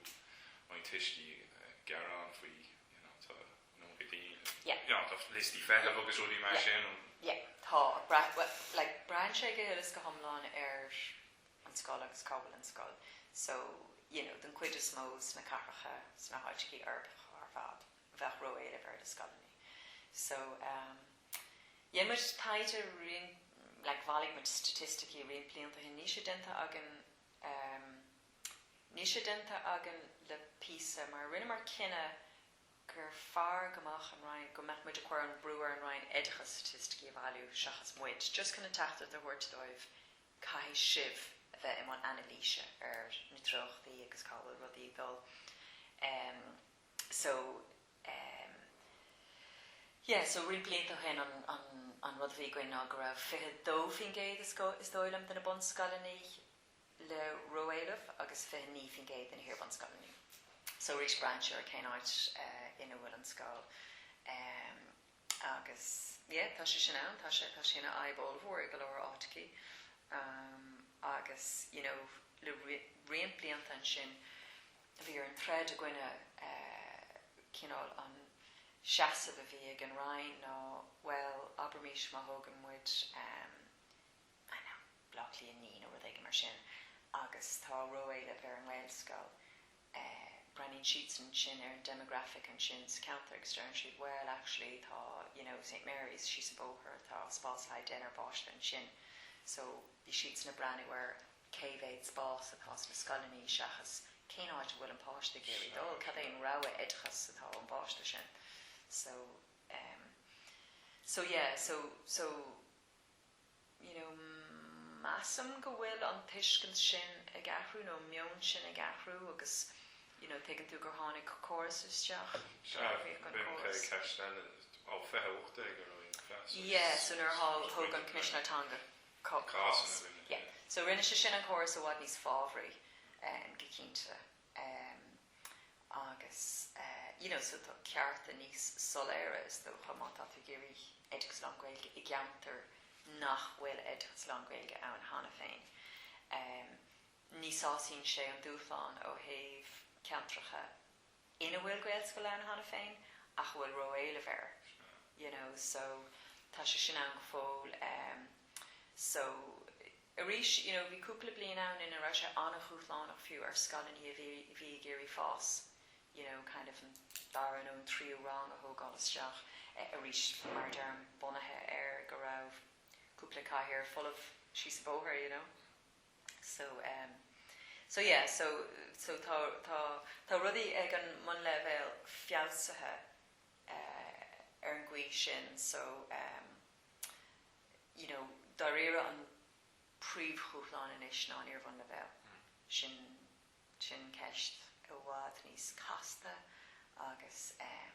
[SPEAKER 2] roinnt tuistí ag gearán faoi you know tá nó go dtí daoine you Yeah. know tá liostaí feithimh agus rudaí mar Yeah. sin. Yeah tá
[SPEAKER 1] brat bhuel like braitheann sé go huile is go hiomlán ar an scoil agus cá bhfuil an scoil so you know den chuid is mó sna cathracha sna háiteachaí uirbeacha ar fad bheadh ró-éileamh ar na scoileanna so ehm Rinne muid taighde roinnt, like bhailigh muid staitisticí roinnt blianta ó shin, níl sé déanta againn, em, níl sé déanta againn le píosa mar rinneamar cinneadh gur fearr go mbeadh an Roinn, go mbeadh muid a' cuir an brú ar an Roinn Oideachais staitisticí a bhailiú seachas muid, just chun an teachtaireacht a thabhairt dóibh caithfidh sibh a bheith i mbun anailíse ar na treochtaí agus cá bhfuil rudaí ag dul. Em. so ehm. yeah so roinnt blianta ó shin an an an rud a bhí againn ná go raibh fiche dó faoin gcéad is go is dóigh liom de na bunscoileanna le ró-éileamh agus fiche naoi faoin gcéad de na hiarbhunscoileanna so arís braitheann sé ar cén áit ina bhfuil an scoil ehm agus yeah tá sé sin ann tá sé tá sé ina fhadhb ollmhór i go leor áiteachaí ehm agus you know le roinnt blianta ansin bhí orainn troid i gcoinne cineál an seasamh a bhí ag an Roinn ná, bhuel, abraimís má thógann muid, I don't know, Bleá Cliath a Naoi nó rud éigin mar sin agus tá ró-éileamh ar an nGaelscoil, breathnaíonn siadsan ansin ar an demographic ansin sa cheantar agus deireann siad, bhuel, actually tá, you know, St Mary's síos an bóthar, tá spás le haghaidh deichniúr páistí ansin so bhí siadsan ag breathnú ar cé mhéad spás atá sna scoileannaí seachas cén áit a bhfuil an páiste ag iarraidh dul, cad é an rogha oideachais atá ón bpáiste sin. So em. so yeah so so you know measaim go bhfuil an tuiscint sin ag athrú nó an meon sin ag athrú agus you know tuigeann tú gur tháinig córas isteach, athraíodh an córas. Sea, b'in ceist eile, ó fiche ocht déag a raibh an cleas. Yeah, so nuair a thug an Coimisinéir Teanga. Cá, cás, ina rinne yeah. Dia. So rinne sé sin an córas i bhfad níos fábhraí em, go cinnte. Em, agus eh, you know, so tá cearta níos soiléire is dócha má tá tú ag iarraidh oideachas lán-Ghaeilge i gceantar nach bhfuil oideachas lán-Ghaeilge ann cheana féin. Em, ní shásaíonn sé an dúshlán ó thaobh ceantracha ina bhfuil Gaelscoil ann cheana féin ach a bhfuil ró-éileamh air you know so tá sé sin ann go fóill em so arís you know bhí cúpla bliain ann ina raibh sé an-dhúshlánach fiú ar scoileanna a bhí a bhí ag iarraidh fás you know kind of an dara nó an tríú rang a thógáil isteach eh arís mar a deirim bunaithe ar go raibh cúpla cathaoir folamh síos an bóthar you know. So, em, so yeah, so, so tá, tá, tá rudaí ag an mbunleibhéal feabhsaithe, eh, ar an gcaoi sin so, em, you know, dáiríre an príomhdhúshlán anois ná an iarbhunleibhéal, sin, sin ceist i bhfad níos casta agus, em,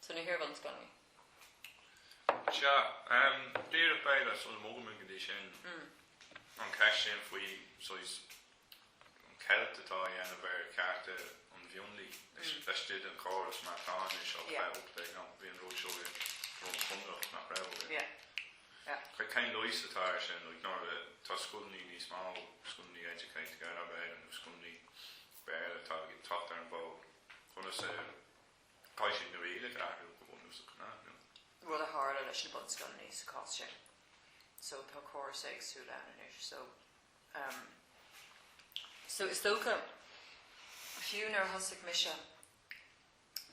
[SPEAKER 1] So na hiarbhunscoileanna.
[SPEAKER 2] Sea. Díreach b'fhéidir sula mbogfaidh muid go dtí sin, an cheist sin faoi, saghas, an cheilt atá á dhéanamh ar chearta an mhionlaigh laistigh den chóras mar atá anois ó Yeah. chaith ucht é nó bhí an rud seo i nDroim Conrach, nach raibh, agus Yeah.
[SPEAKER 1] Yeah.
[SPEAKER 2] cad, cén leigheas atá air sin, like, nuair a, tá scoileanna níos mó, scoileanna educate together, b'fhéidir, nó scoileanna Béarla atá ag teacht ar an bhfód, conas a. Caithfidh na rialacha athrú go bunúsach, nach ndéanfaidh? rud a
[SPEAKER 1] tharla leis na bunscoileanna sa chás sin. So tá córas éagsúil ann anois. So ehm so is dócha fiú nuair a thosaigh mise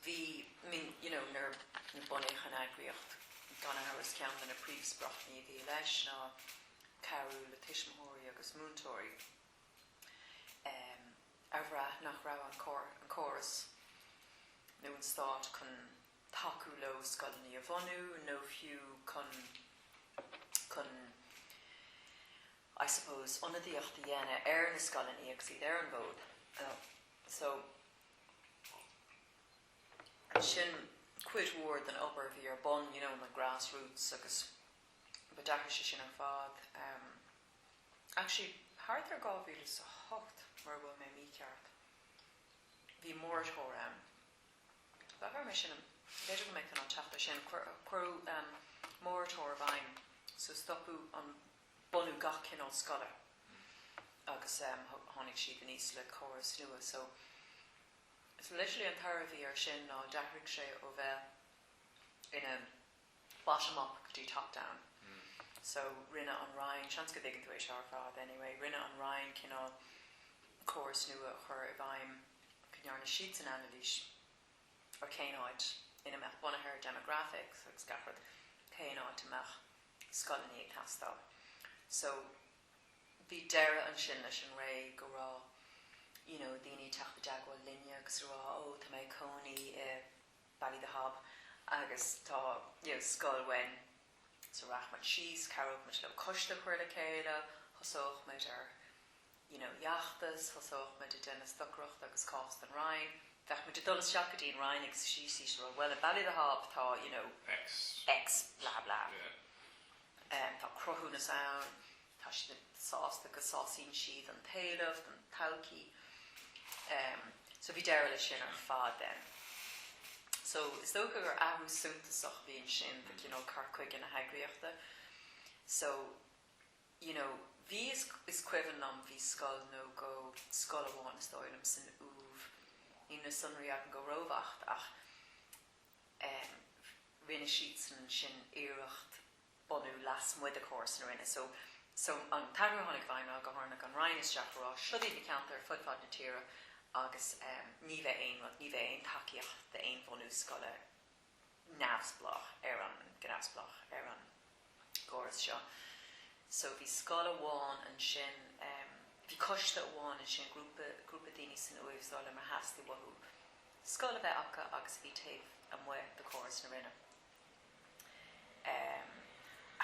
[SPEAKER 1] bhí I mean you know nuair a bunaíodh an eagraíocht gan amhras ceann de na príomhspriocanna a bhí leis ná cabhrú le tuismitheoirí agus múinteoirí ehm a bhraith nach raibh an córas nó an stát chun tacú leo scoileanna a bhunú nó fiú chun chun I suppose ionadaíocht a dhéanamh ar na scoileanna agus iad ar an bhfód. So sin cuid mhór den obair a bhí ar bun, you know, na grass roots agus but d'athraigh sé sin ar fad. Actually, thart ar 2008, mura bhfuil mé mícheart. Bhí moratorium. B'fhearr mé sin, b'fhéidir go mbeidh tú in ann teacht air sin. Cuireadh moratorium i bhfeidhm, so stopadh an bunú gach cineál scoile agus tháinig siad aníos le córas nua. So, literally an toradh a bhí air sin ná d'athraigh sé ó bheith ina. ó bottom up go dtí top down so rinne an Roinn, seans go dtuigeann tú é seo ar fad anyway, rinne an Roinn cineál córas nua a chur i bhfeidhm go ndearna siadsan anailís ar cén áit ina mbeadh, bunaithe ar demographics agus gach rud, cén áit a mbeadh scoileanna ag teastáil. So bhí deireadh ansin leis an ré go raibh you know daoine ag teacht i dteagmháil linne agus a rá 'ó tá mé ag cónaí i, Ballythehab agus tá, you know, scoil uainn so rachadh muid síos, chabhródh muid leo coiste a chur le chéile, thosódh muid ar, you know, fheachtas, thosódh muid ag déanamh stocaireacht agus cás don Roinn, bheadh muid ag dul isteach go dtí an Roinn agus ag síor-rá bhuel in Ballythehab tá, you know, X, blah blah, tá cruthúnas ann. Tá siad sásta go sásaíonn siad an t-éileamh don todhchaí so bhí deireadh leis sin ar fad then. So is dócha gur athrú suntasach a bhí ansin do cineál cur chuige na heagraíochta so you know bhí, is cuimhin liom bhí scoil nó dhó, scoil amháin is dóigh liom san Uaimh, níl na sonraí agam go róbheacht ach eh rinne siadsan ansin iarracht, bunú lasmuigh de chóras na Roinne. So, so an t-athrú a tháinig i bhfeidhm ná go dtarlódh an Roinn ag teacht ag rá, seo iad na ceantair fud fad na tíre agus ehm ní bheidh aon rud, ní bheidh aon tacaíocht d'aon bhunú scoile neamhspleách ar an, go neamhspleách ar an gcóras seo. So bhí scoil amháin ansin ehm, bhí coiste amháin ansin, grúpa, grúpa daoine san Uaimh is dóigh liom ar theastaigh uathu scoil a bheith acu agus a bhí taobh amuigh de chóras na Roinne.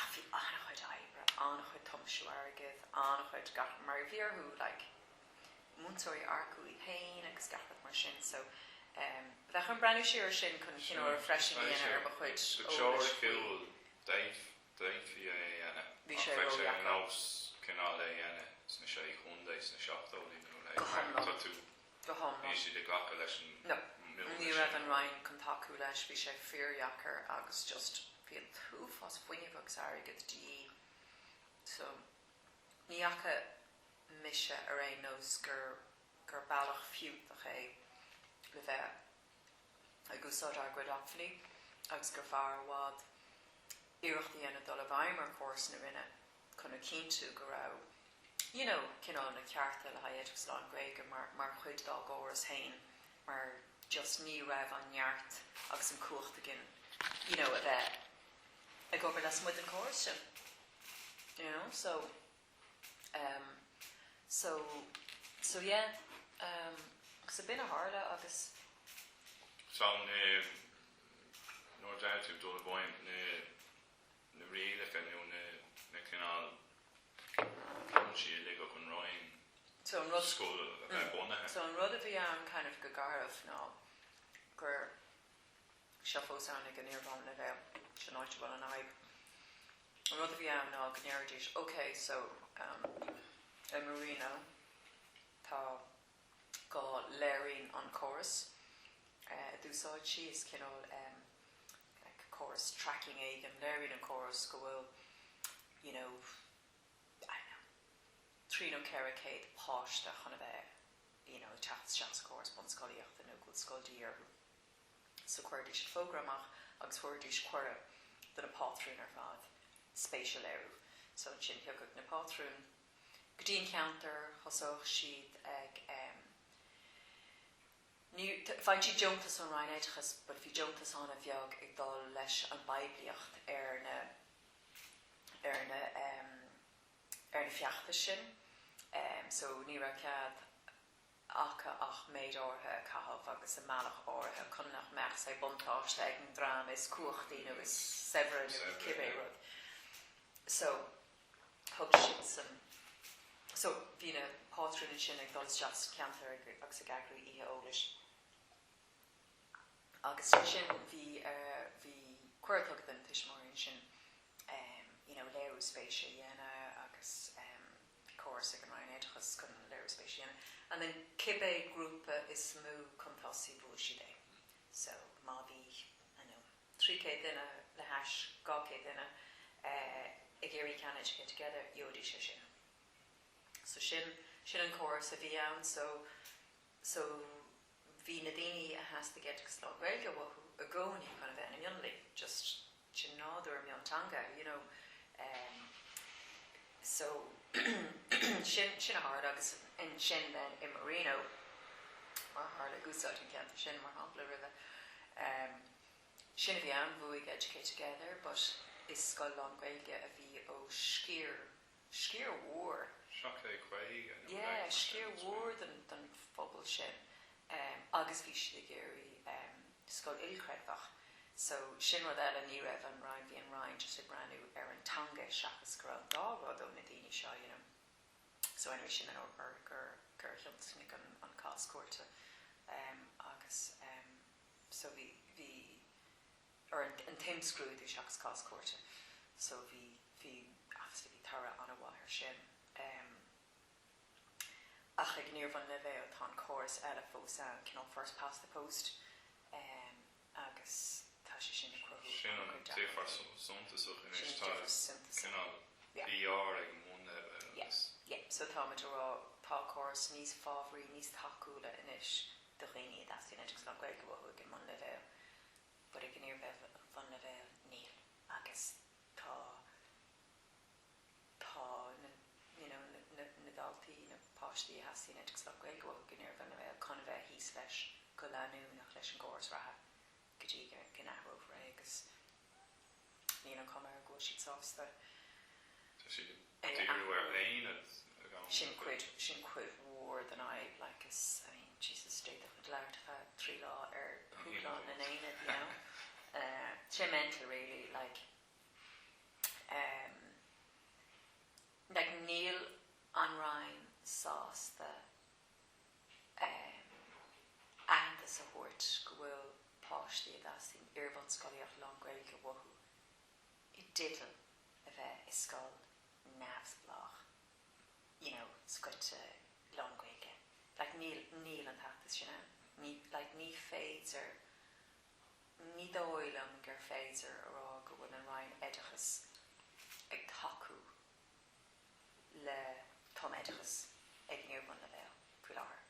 [SPEAKER 1] Ach bhí an-chuid oibre, an-chuid tiomsú airgid, an-chuid gach, mar a bhí orthu, like, múinteoirí a earcú iad féin agus gach rud mar sin. So, bheadh orm breathnú siar ar sin chun cineál refreshing a dhéanamh ar mo chuid eolais
[SPEAKER 2] faoi. D'fhéadfaí é a dhéanamh, ach bheadh sé ar
[SPEAKER 1] nós
[SPEAKER 2] cineál é a dhéanamh sna Sé Chontae sna seachtóidí nó a leithéid, mar tá tú go hiomlán. Bhí siad ag glacadh leis an
[SPEAKER 1] mbualadh sin. Ní raibh an Roinn chun tacú leis, bhí sé fíordheacair agus just bhí an t-uafás fuinnimh agus airgid de dhíth. So, ní fhaca mise ar aon nós gur bealach fiúntach é le bheith ag úsáid ár gcuid acmhainní agus gur fearr i bhfad iarracht a dhéanamh dul i bhfeidhm ar chóras na Roinne. chun a chinntiú go raibh you know cineál na cearta le haghaidh oideachas lán-Ghaeilge mar mar chuid dá gcóras féin mar just ní raibh an neart agus an chumhacht againn you know a bheith ag obair lasmuigh den córas sin you know so um so so yeah um agus ab in a tharla agus Tá
[SPEAKER 2] na no doubt ag dul i bhfeidhm na na rialacha nó na cineál cúinsí a ligfeadh an Roinn scoil a bheith bunaithe. So an rud a bhí ann
[SPEAKER 1] kind of go garbh ná gur, seo fós ann ag an iar-bhunleibhéal, sin áit a bhfuil an fhadhb, an rud a bhí ann ná go ndéarfaidís, okay, so, um, i Marino tá go léiríonn an córas a d'úsáidtear, is cineál córas tracking éigin, léiríonn an córas go bhfuil you know, I don't know, trí nó ceithre céad páiste chun a bheith you know, ag teacht isteach sa chóras bunscolaíochta agus go bhfuil scoil de dhíth orthu. So chuirfidís an fógra amach agus thabharfaidís cuireadh do na pátrúin ar fad spéis a léiriú. So ansin thiocfadh na pátrúin go dtí an ceantar, thosódh siad ag em. ní, bhfaigheann siad deontas ón Roinn Oideachais but bhí deontas ana-bheag ag dul leis an bpoiblíocht ar na, ar na em. ar na feachtais sin em so ní raibh cead acu ach méid áirithe a chaitheamh agus i mbealach áirithe chun nach mbeadh say buntáiste ag an dream is cumhachtaí nó is saibhre nó cibé rud so. thug sin san, so bhí na pátrúin ansin ag dul isteach sa cheantar agus ag eagrú oíche eolais agus ansin bhí, bhí cuireadh tugtha do na tuismitheoirí ansin you know léiriú spéise a dhéanamh agus bhí córas ag an Roinn Oideachais chun léiriú spéise a dhéanamh and then cibé grúpa is mó chun tosaigh bhuaigh siad é so má bhí, I dunno. trí chéad duine le hais dhá chéad duine ag iarraidh ceann Educate Together gheobhaidís é sin so sin, sin an córas a bhí ann so, so bhí na daoine a theastaigh oideachas lán-Ghaeilge uathu i gcónaí chun a bheith ina mionlaigh just, sin nádúr mionteanga you know em so sin, sin a tharla agus ansin then i Marino mar a tharla ag úsáid an ceantar sin mar shampla raibh em. Sin a bhí ann, bhuaigh Educate Together but is scoil lán-Ghaeilge a bhí ó sciar, sciar mhór, seacht mé caoga nó yeah, leagan mar sin, sciar mhór den phobal sin agus bhí siad ag iarraidh scoil ilchreidmheach so sin rud eile, ní raibh an Roinn, bhí an Roinn just ag breathnú ar an teanga seachas go raibh an dá rud ó na daoine seo you know. So anyway sin an ábhar gur, gur thionscnaigh an cás cúirte agus. so bhí, bhí, or an, an t-imscrúdú seachas cás cúirte, so bhí, bhí obviously bhí toradh an-mhaith ar sin ehm ach ag an iarbhunleibhéal, tá an córas eile fós ann, cineál first past the post ehm agus tá sé sin ag cruthú an-chuid deacrachtaí. Sin an difear
[SPEAKER 2] suntasach anois, tá cineál PR ag an mbunleibhéal agus. Sin
[SPEAKER 1] an difear suntasach. Yeah. Yeah, yeah, so tá muid a' rá tá córas níos fabhraí, níos tacúla anois. do dhaoine a dteastaíonn oideachas lán-Ghaeilge uathu ag an mbunleibhéal, but ag an iarbhunleibhéal níl agus tá tá na you know na na daltaí, na páistí a theastaíonn oideachas lán-Ghaeilge uathu ag an iarbhunleibhéal chun a bheith thíos leis go leanúnach leis an gcóras reatha go dtí go n-athrófar é agus níl an chuma air go bhfuil siad sásta Tá siad ag díriú ar aonaid ag an am seo. Sin cuid mhór den fhadhb, like, is, I mean, Jesus, d'fhéadfadh muid labhairt ar feadh trí lá ar dhúshlán na n-aonad, you know. Tá sé mental really, like, like níl an Roinn sásta aitheantas a thabhairt go bhfuil páistí a dteastaíonn iarbhunscolaíocht lán-Ghaeilge uathu i dteideal a bheith i scoil neamhspleách, you know, scoite lán-Ghaeilge. Like, níl, níl an t-aitheantas sin ann. Ní, like, ní féidir, ní dóigh liom gur féidir a rá go bhfuil an Roinn Oideachais ag tacú le tumoideachas ag an iarbhunleibhéal faoi láthair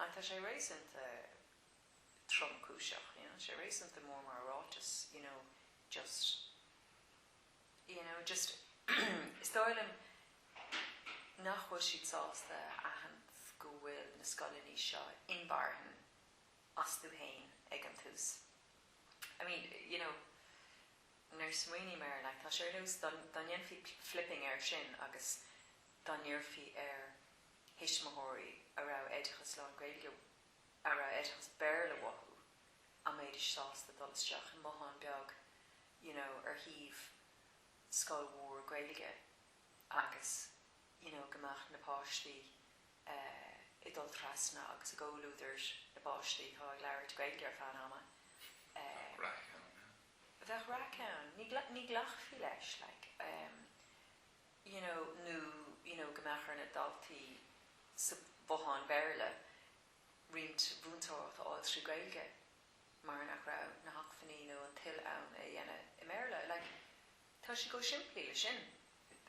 [SPEAKER 1] and tá sé réasúnta tromchúiseach, you know, tá sé réasúnta mór mar ráiteas, you know, just, you know, just is dóigh liom nach bhfuil siad sásta a aithint go bhfuil na scoileannaí seo inmharthan astu fhéin ag an tús, I mean, you know. Nuair a smaoiním air, like, tá sé ar nós dá ndéanfaí flipping air sin agus dá n-iarrfaí ar thuismitheoirí a raibh oideachas lán Gaeilge, a raibh oideachas Béarla uathu, an mbeidís sásta dul isteach i mbothán beag, you know, ar thaobh scoil mhór Gaeilge agus, you know, go mbeadh na páistí eh ag dul trasna agus i gcomhluadar na bpáistí atá ag labhairt Gaeilge ar feadh an ama eh. Bheadh raic ann, yeah. bheadh raic ann, ní, ní ghlacfaí leis like you know nó you know go mbeadh ar na daltaí sa bhothán Béarla roinnt mhúinteoireacht a fháil trí Gaeilge mar nach raibh na hacmhainní nó an toil ann é a dhéanamh i mBéarla like tá sé chomh simplí le sin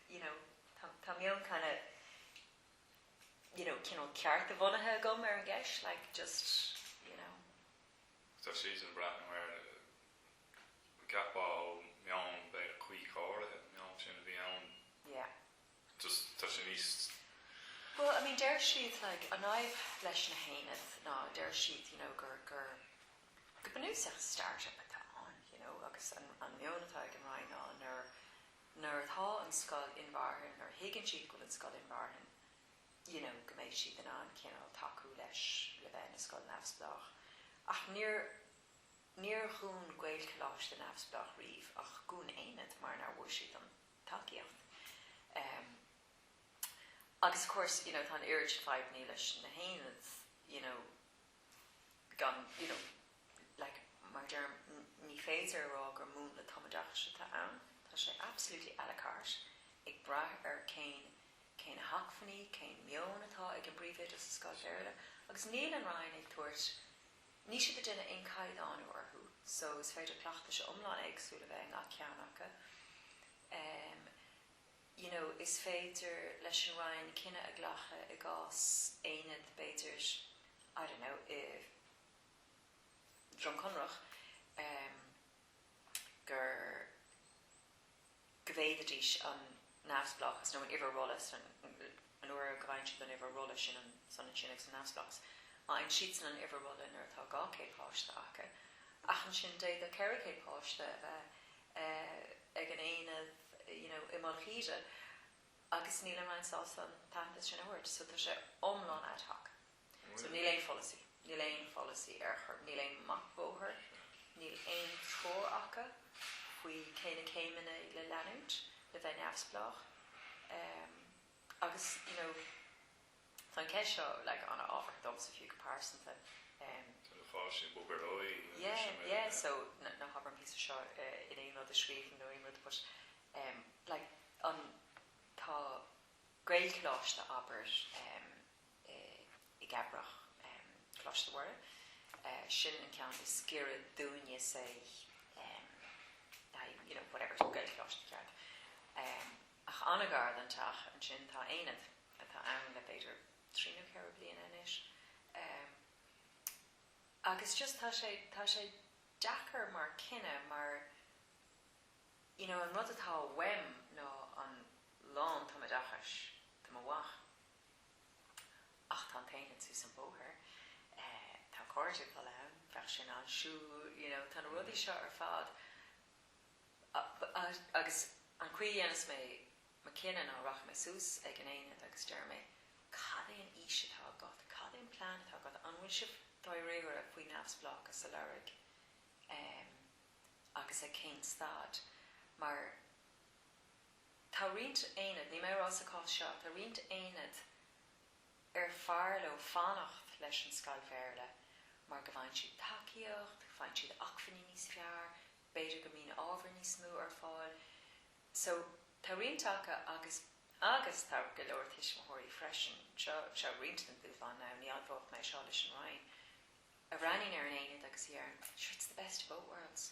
[SPEAKER 1] you know tá, tá meon kind of you know cineál cearta-bhunaithe agam ar an gceist like just you know.
[SPEAKER 2] Tá siad ag breathnú air, cheapfá, ó mheon, b'fhéidir, cuí go háirithe an meon sin a bhí ann,
[SPEAKER 1] just tá
[SPEAKER 2] sé níos. Bhuel, I mean,
[SPEAKER 1] deir siad, like, an fhadhb leis na haonaid ná, deir siad, you know, gur, gur, go bunúsach start-up atá ann, you know, agus an, an meon atá ag an Roinn ná nuair, nuair atá an scoil inmharthana, nuair a thuigeann siad go bhfuil an scoil inmharthana, you know go mbeidh siad in ann cineál tacú leis le bheith ina scoil neamhspleách ach níor, níor dhún Gaelcholáiste neamhspleách riamh ach dhún aonad mar nár bhfuair siad an tacaíocht ehm agus of course you know tá an oiread sin fadhbannaí leis na haonaid you know gan you know. like, mar a deirim, ní féidir a rá gur múnla tumoideachais atá ann, tá sé absolutely a la carte, ag brath ar cén, cé na hacmhainní, cén meon atá ag an bpríomhoide sa scoil Bhéarla, agus níl an Roinn ag tabhairt, níl siad ag déanamh aon chaighdeánú orthu, so is féidir cleachtais iomlán éagsúil a bheith i ngach ceann acu. Em, you know, is féidir leis an Roinn cinneadh a ghlacadh i gcás aonad, b'fhéidir, I don't know, i, Droim Conrach gur go bhféadaidís an neamhspleáchas nó an uimhir rolla is nuair go bhfaigheann siad an uimhir rolla sin is ionann sin agus an neamhspleáchas, faigheann siadsan an uimhir rolla nuair atá dhá céad páiste acu, ach ansin d'fhéadfadh ceithre céad páiste a bheith ag an aonad you know i Mullach Íde agus níl an Roinn sásta an t-aitheantas sin a thabhairt so tá sé iomlán ad hoc. So níl aon pholasaí, níl aon pholasaí ar chor, níl aon mapa bóthair, níl aon treoir acu faoi cé na céimeanna le leanúint le bheith neamhspleách. Agus, you know, tá an cheist seo, like, an-ábhartha domsa fiú go pearsanta. An fáth sin, bhuel, ar ndóigh, sin é. Yeah, yeah, so ná habair an píosa seo in aon rud a scríobhaim nó aon rud but, like, tá Gaelcholáiste, abair, i gCabrach, Coláiste Mhuire, sin an ceann is giorra dúinne, say, I, you know, whatever, Gaelcholáiste, ceart, ach an-ghar don teach, ansin tá aonad, atá ann le b'fhéidir trí nó ceithre bliana anois, agus just tá sé, tá sé deacair mar cinneadh mar, you know, an rud atá uaim ná an lántumoideachais do mo mhac. Ach tá an t-aonad suas an bóthar, tá a chairde ag dul ann, bheadh sin an, siúd, you know, tá na rudaí seo ar fad agus an chaoi a dhéanas mé mo chinneadh ná rachaidh mé suas ag an aonad agus deir mé, cad é an fhís atá agat, cad é an plean atá agat, an bhfuil sibh dáiríre faoi neamhspleáchas a lorg agus ag cén staid mar. Tá roinnt aonad, níl mé ag rá sa chás seo, tá roinnt aonad ar fearr leo fanacht leis an scoil Bhéarla mar go bhfaigheann siad tacaíocht, faigheann siad acmhainní níos fearr, b'fhéidir go mbíonn ábhar níos mó ar fáil. So, tá roinnt acu agus, agus tá go leor tuismitheoirí freisin, seo, seo roinnt den dúshlán now, ní admhóidh mé seo leis an Roinn, a bhreathnaíonn ar an aonad agus a dheireann, sure, it's the best of both worlds.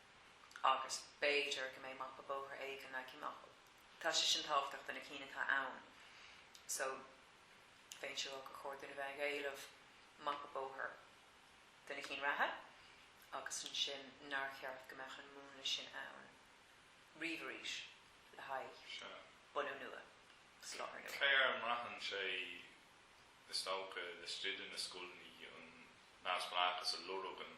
[SPEAKER 1] agus b'fhéidir go mbeidh mapa bóthair éigin ag teacht amach, tá sé sin tábhachtach do na cinn atá ann so fiú ansin, siúráilte ba chóir dúinn a bheith ag éileamh mapa bóthair do na cinn reatha agus ansin nár cheart go mbeadh an múnla sin ann riamh arís le haghaidh bunú nua, soláthar nua. Cé air a mbraitheann sé,
[SPEAKER 2] is dócha, ó stiúrthóirí na scoileanna an neamhspleáchas a lorg an.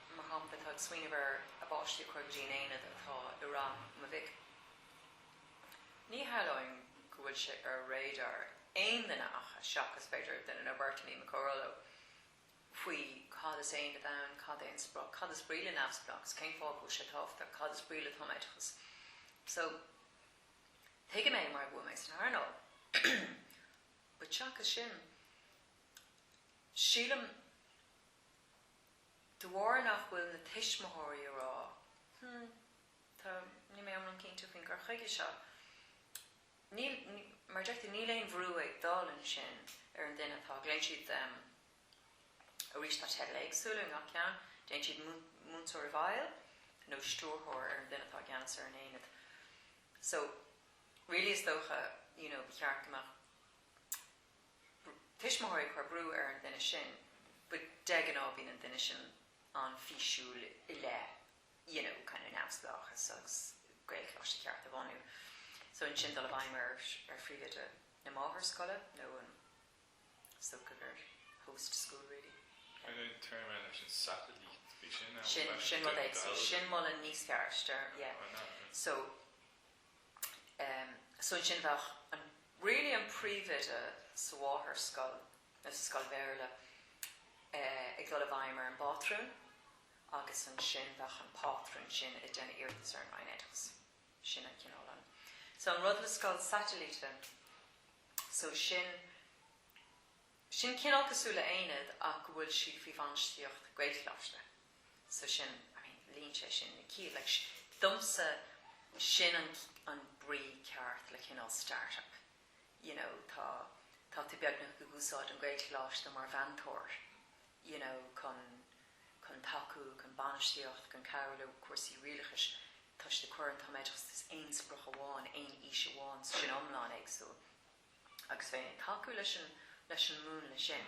[SPEAKER 1] mar shampla, tá ag smaoineamh ar a bpáistí a chur go dtí an aonad atá i rang mo mhic. Ní shamhlóinn go bhfuil sé ar radar aon duine acu, seachas, b'fhéidir, duine nó beirt i ndáiríre, mo chomhghleacaí, faoi cad is aonad ann, cad é an sprioc, cad is brí le neamhspleáchas, cén fáth go bhfuil sé tábhachtach, cad is brí le tumoideachas. So, tuigim é mar go bhfuil mé san earnáil, but seachas sin, sílim, De bharr nach bhfuil na tuismitheoirí ag rá, Hm, tá, níl mé iomlán cinnte faoin gcur chuige seo, níl, mar a déarfá, níl aon bhrú ag dul ansin ar an duine atá, glaonn siad arís, tá teidil éagsúla i ngach ceann, glaonn siad múinteoir i bhfeighil nó stiúrthóir ar an duine atá i gceannas ar an aonad. So, really is dócha, you know, ba cheart go mbeadh tuismitheoirí ag cur brú ar an duine sin, but de ghnáth bíonn an duine sin an-fhíosúil i leith you know kind of neamhspleáchas agus Gaelcholáiste ceart a bhunú so ansin dul i bhfeidhm ar ar phríomhoide na máthairscoile nó an socrú host school really yeah. Cad é an téarma
[SPEAKER 2] eile leis an satellite? Bhí sin ann. Sin sin rud
[SPEAKER 1] éagsúil. Sin moladh níos fearr, yeah. So em so ansin bheadh an really an príomhoide sa mháthairscoil nó sa scoil Bhéarla eh ag dul i bhfeidhm ar an bpátrún agus ansin bheadh an pátrún sin ag déanamh iarratas ar an Roinn Oideachais. Sin an cineál an. So an rud le scoil satailíte so sin sin cineál cosúil le haonad ach go bhfuil siad faoi bhainistíocht Gaelcholáiste. So sin, I mean, líonann sé sin na cinn, like, domsa, sin an, an brí ceart le cineál start-up, you know, tá, tá tú beagnach ag úsáid an Gaelcholáiste mar mheantóir, you know, chun, chun tacú, chun bainistíocht, chun cabhrú le cúrsaí rialachais toisc do cuireann, tá méid, is aon sprioc amháin, aon fhís amháin, so sin iomlán éagsúil. Agus bheinn ag tacú leis an, leis an múnla sin.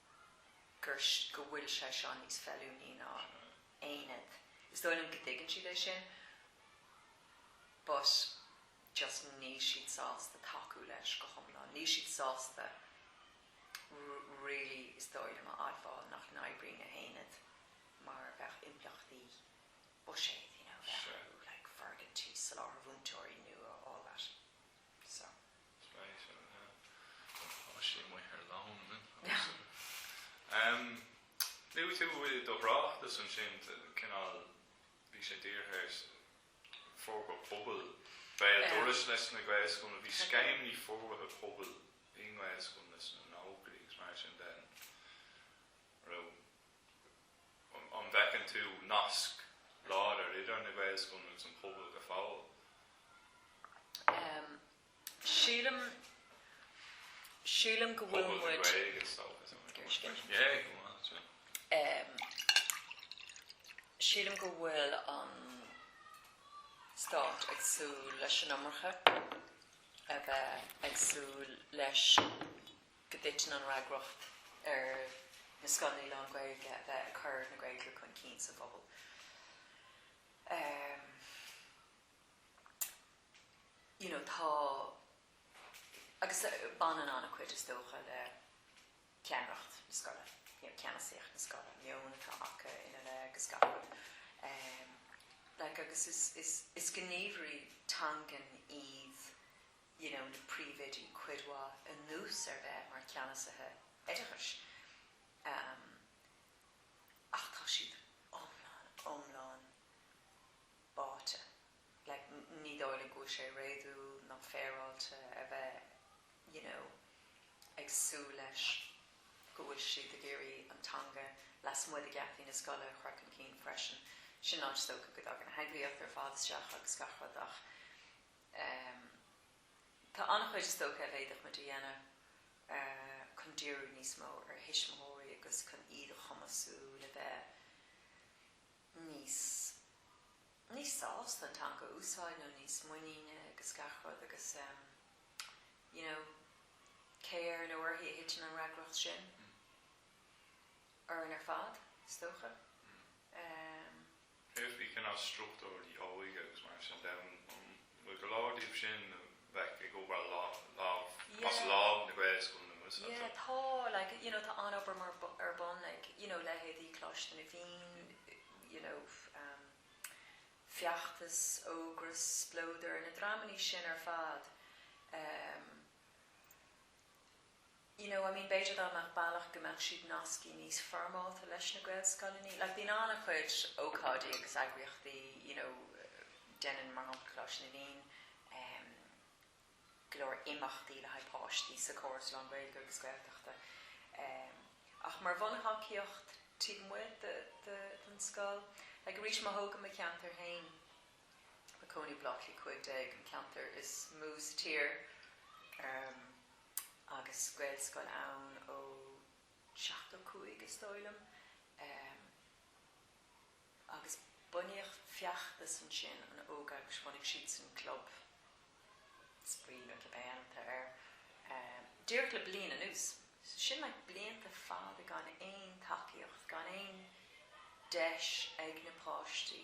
[SPEAKER 1] gur, go bhfuil sé seo níos feiliúnaí ná aonad. Is dóigh liom go dtuigeann siad é sin but just níl siad sásta tacú leis go hiomlán. Níl siad sásta really is dóigh liom a admháil nach n-oibríonn an t-aonad mar bheadh impleachtaí buiséid you know, bheith orthu like foirgintí, soláthar múinteoirí nua all that so.
[SPEAKER 2] Spéisiúil, yeah. Bhuel, tá sí amuigh ar loan, isn't it? I assume. Em, i do thráchtas ansin, t- cineál, bhí sé dírithe ar s- forbartha pobail, béal Yeah. dorais leis na Gaelscoileanna, bhí scéimeanna forbartha pobail i nGaelscoileanna sna nóchaidí agus mar sin de, raibh. An bhfeiceann tú nasc láidir idir na Gaelscoileanna agus an pobal go fóill? Sílim,
[SPEAKER 1] sílim go bhfuil muid. Pobal na Gaeilge is dócha, is dócha. Iris Gaeilge. Yeah, go maith, is maith. Sílim go bhfuil an Stát ag súil leis an iomarca, a bheith ag súil leis go dtiteann an fhreagracht ar na scoileanna lán-Ghaeilge a bheith ag cur na Gaeilge chun cinn sa phobal. You know, tá, agus baineann an-chuid, is dócha, le ceannaireacht na scoile, you know, ceannasaíocht na scoile, an meon atá acu ina leith agus gach rud. Like, agus is, is, is gníomhairí teangan iad you know, na príomhoidí cuid mhaith anuas ar bheith mar cheannasaithe oideachais ach tá siad iomlán, iomlán báite. Like, ní dóigh linn go bhfuil sé réadúil ná féaráilte a bheith you know ag súil leis go bhfuil siad ag iarraidh an teanga lasmuigh de gheataí na scoile a chur chun cinn freisin. Sin an áit is dócha go dtagann an theagmhálaíocht ar fad isteach agus gach rud ach em. tá an-chuid is dócha a bhféadfadh muid a dhéanamh chun díriú níos mó ar thuismitheoirí agus chun iad a chumasú le bheith níos. níos sásta an teanga a úsáid nó níos muiníne agus gach rud agus em. you know cé air nó uirthi a thiteann an fhreagracht sin? orainn ar fad is dócha. Em.
[SPEAKER 2] Bhíodh na cineál struchtúir óige agus mar sin de, an bhfuil go leor díobh sin a bheadh ag obair lámh as lámh leis na Gaelscoileanna nua seo? Yeah, tá, like,
[SPEAKER 1] you know, tá an-obair mar, ar bun ag, you know, leithéidí Coláiste na bhFiann, you know, ehm, Feachtas, Ógras, Splódar, na dreamannaí sin ar fad, ehm, you know, I mean b'fhéidir dá mbeadh bealach go mbeadh siad nasctha níos foirmeálta leis na Gaelscoileanna, like bíonn an-chuid ócáidí agus eagraíochtaí, you know, déanann, mar shampla, Coláiste na bhFiann ehm go leor imeachtaí le haghaidh páistí sa chóras lán-Ghaeilge agus Gaeltachta ehm ach mar bhunthacaíocht taobh amuigh de, de, den scoil, like arís má thógaim mo cheantar féin, i mo chónaí, Bleá Cliath cúig déag, an ceantar is mó sa tír ehm. agus Gaelscoil ann ó seachtó cúig is dóigh liom agus bunaíodh Feachtas ansin an ógeagras, bhunaigh siadsan club spraoi nó club éigin atá air, díreach le bliain anuas. So sin like blianta fada gan aon tacaíocht, gan aon deis ag na páistí,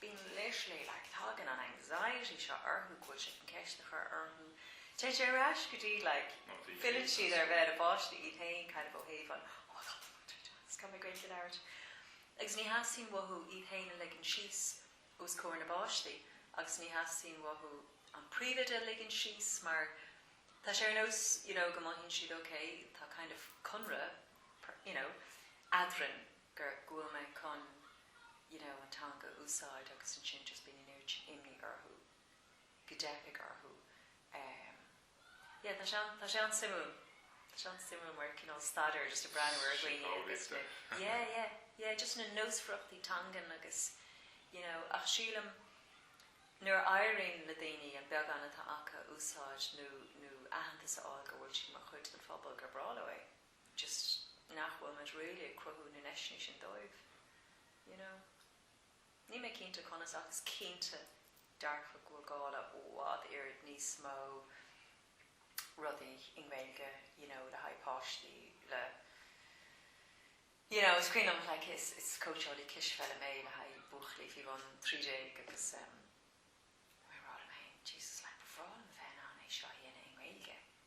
[SPEAKER 1] Bíonn literally, like, tagann an anxiety seo orthu go gcuirfidh siad ceist a chur orthu. Téann sé ar ais go dtí like, filleann siad ar bheith ina bpáistí iad féin kind of ó thaobh an oh tá an múinteoir do mo cheistiú, is gá mé Gaeilge a labhairt. Agus ní theastaíonn uathu iad féin a ligean síos os comhair na bpáistí agus ní theastaíonn uathu an príomhoide a ligean síos mar tá sé ar nós you know go mothaíonn siad ok tá kind of conradh you know eadrainn. go bhfuil mé chun you know an teanga a úsáid agus ansin just bíonn an oiread imní orthu go dteipfidh orthu em yeah tá sé an tá sé an-suimiúil tá sé an-suimiúil mar cineál staidéar just ag breathnú ar dhaoine agus na yeah yeah yeah just na nósmhaireachtaí teangan agus you know ach sílim nuair a éiríonn le daoine an beagán atá acu a úsáid nó nó aitheantas a fháil go bhfuil siad mar chuid den phobal gur breá leo é. just nach bhfuil muid really ag cruthú na ndeiseanna sin dóibh, you know. Níl mé cinnte conas ach is cinnte dearfa go bhfuil gá le i bhfad oiread níos mó rudaí i nGaeilge, you know, le haghaidh páistí, le, you know, is cuimhin liom, like, is, is cóitseálaí cispheile mé le haghaidh buachaillí faoi bhun trí déag agus em, bhíomar all, oh my, Jesus, like, ba bhreá liom a bheith in ann é seo a dhéanamh i nGaeilge,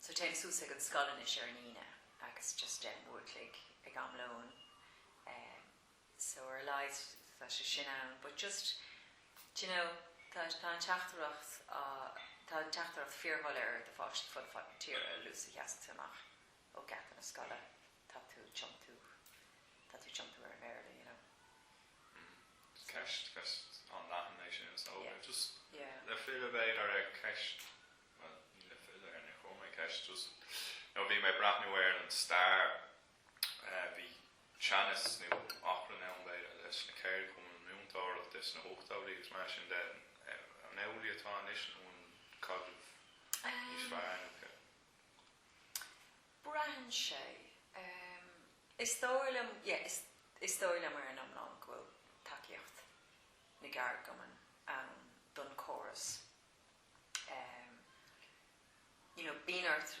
[SPEAKER 1] So téim suas ag an scoil anois ar an Aoine agus just leathuair an chloig ag am lóin eh so ar a laghad tá sé sin ann but just do you know tá tá an teachtaireacht á tá an teachtaireacht fíor-dhoiléir do pháiste fud fad na tíre a luas a sheas tú amach ó geata na scoile tá tú ag tiontú tá tú ag tiontú ar an mBéarla you know so.
[SPEAKER 2] Ceist ceist an-leathan é sin so yeah just
[SPEAKER 1] yeah le filleadh
[SPEAKER 2] ar an gceist Bhuel, le filleadh ar na cumainn, ceist. You know bhí mé ag breathnú ar an stair, bhí teannas nó achrann ann, b'fhéidir, leis na ceithre cumann múinteoireachta sna hóchtóidí agus mar sin de. An amhlaidh atá anois nó an bhfuil caidreamh níos fearr acu?
[SPEAKER 1] Braitheann sé. Is dóigh liom, yeah, is dóigh liom ar an iomlán go bhfuil tacaíocht na gceardchumann ann don chóras. you know bíonn ort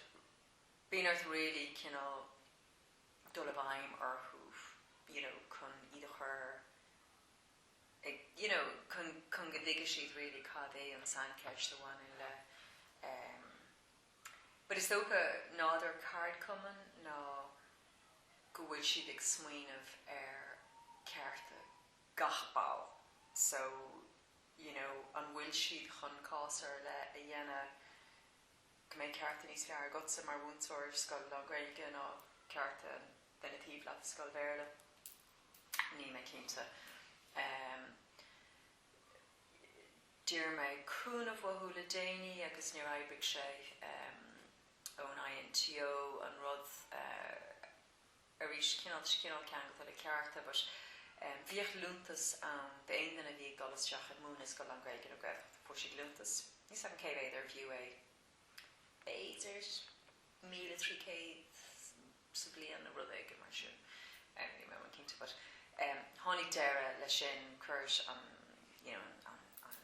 [SPEAKER 1] bíonn ort really cineál dul i bhfeidhm orthu you know chun iad a chur ag you know chun chun go dtuigfidh siad really cad é an tsaincheist a bhaineann le em but is dócha nádúr ceardchumann ná go bhfuil siad ag smaoineamh ar chearta gach ball so you know an bhfuil siad chun cás ar leith a dhéanamh go mbeidh cearta níos fearr agatsa mar mhúinteoir i scoil lán-Ghaeilge ná cearta an duine taobh leat i scoil Bhéarla? Níl mé cinnte. Em. d'iarr mé cúnamh uathu le déanaí agus níor oibrigh sé. Em. ón INTO an rud. arís, cineál ceangailte le cearta but em bhíodh liúntas ann d'aon duine a bhí ag dul isteach ag múineadh i scoil lán-Ghaeilge nó Gaeltachta, fuair siad liúntas, níl a fhios agam cé mhéad arbh fhiú é, b'fhéidir míle trí céad sa bhliain nó rud éigin mar sin, em níl mé cinnte but em tháinig deireadh leis sin, cuir an you know an an.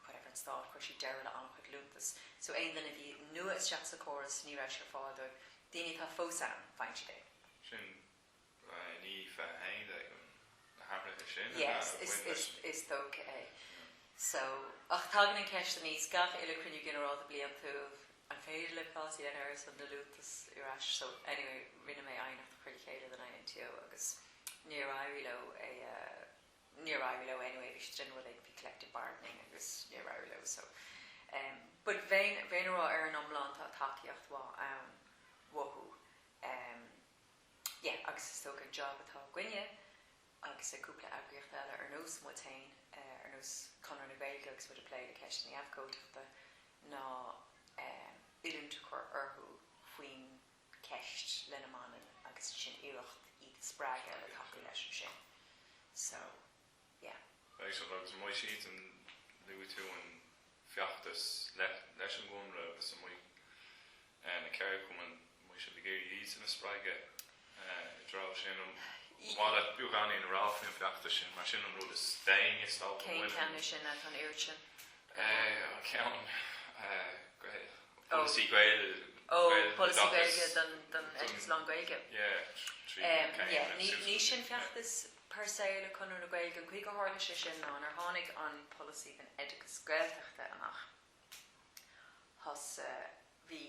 [SPEAKER 1] Whatever an Stát, chuir siad deireadh le an-chuid liúntas, so aon duine a bhí nua isteach sa chóras, ní raibh sé ar fáil dóibh. Daoine atá fós ann, faigheann siad é. Sin i ndiaidh
[SPEAKER 2] na hathruithe sin a bhain leis an. Yes,
[SPEAKER 1] is dócha é. So, ach tagann an ceist aníos, gach uile Cruinniú Ginearálta Bliantúil, an féidir le cás a dhéanamh ar son na liúntas ar ais, so anyway, rinne mé aighneacht a chur le chéile don INTO agus níor éirigh leo é a, níor éirigh leo anyway, bhí siad ag déanamh uilig, bhí collective bargaining agus níor éirigh leo so em but bheinn bheinn a' rá ar an iomlán tá tacaíocht mhaith ann uathu em yeah agus is dócha an job atá againne agus ag cúpla eagraíocht eile ar nós muid féin eh ar nós Conradh na Gaeilge agus muid a' plé le ceist na habhcóideachta ná em oiliúint a chur orthu faoin ceist lena mbaineann agus sin iarracht iad a spreagadh le tacú leis ansin so yeah. Right so agus
[SPEAKER 2] má tá siad an luaigh tú an feachtas leis an gConradh agus an mbeadh na ceardchumainn an mbeadh sibh ag iarraidh iadsan a spreagadh i dtreo sin ar mhaith leat beagáinín a rá faoin bhfeachtas sin mar sin an rud is déanaí is dócha, an bhfuil? Cén ceann é sin, an
[SPEAKER 1] oiread sin?
[SPEAKER 2] an ceann
[SPEAKER 1] polasaí Gaeilge don oideachas lán-Ghaeilge.
[SPEAKER 2] Ní hé sin
[SPEAKER 1] feachtas per se le Conradh na Gaeilge, an chaoi gur tharla sé sin ná nuair a tháinig an polasaí don oideachas Gaeltachta amach. Thosaigh, bhí.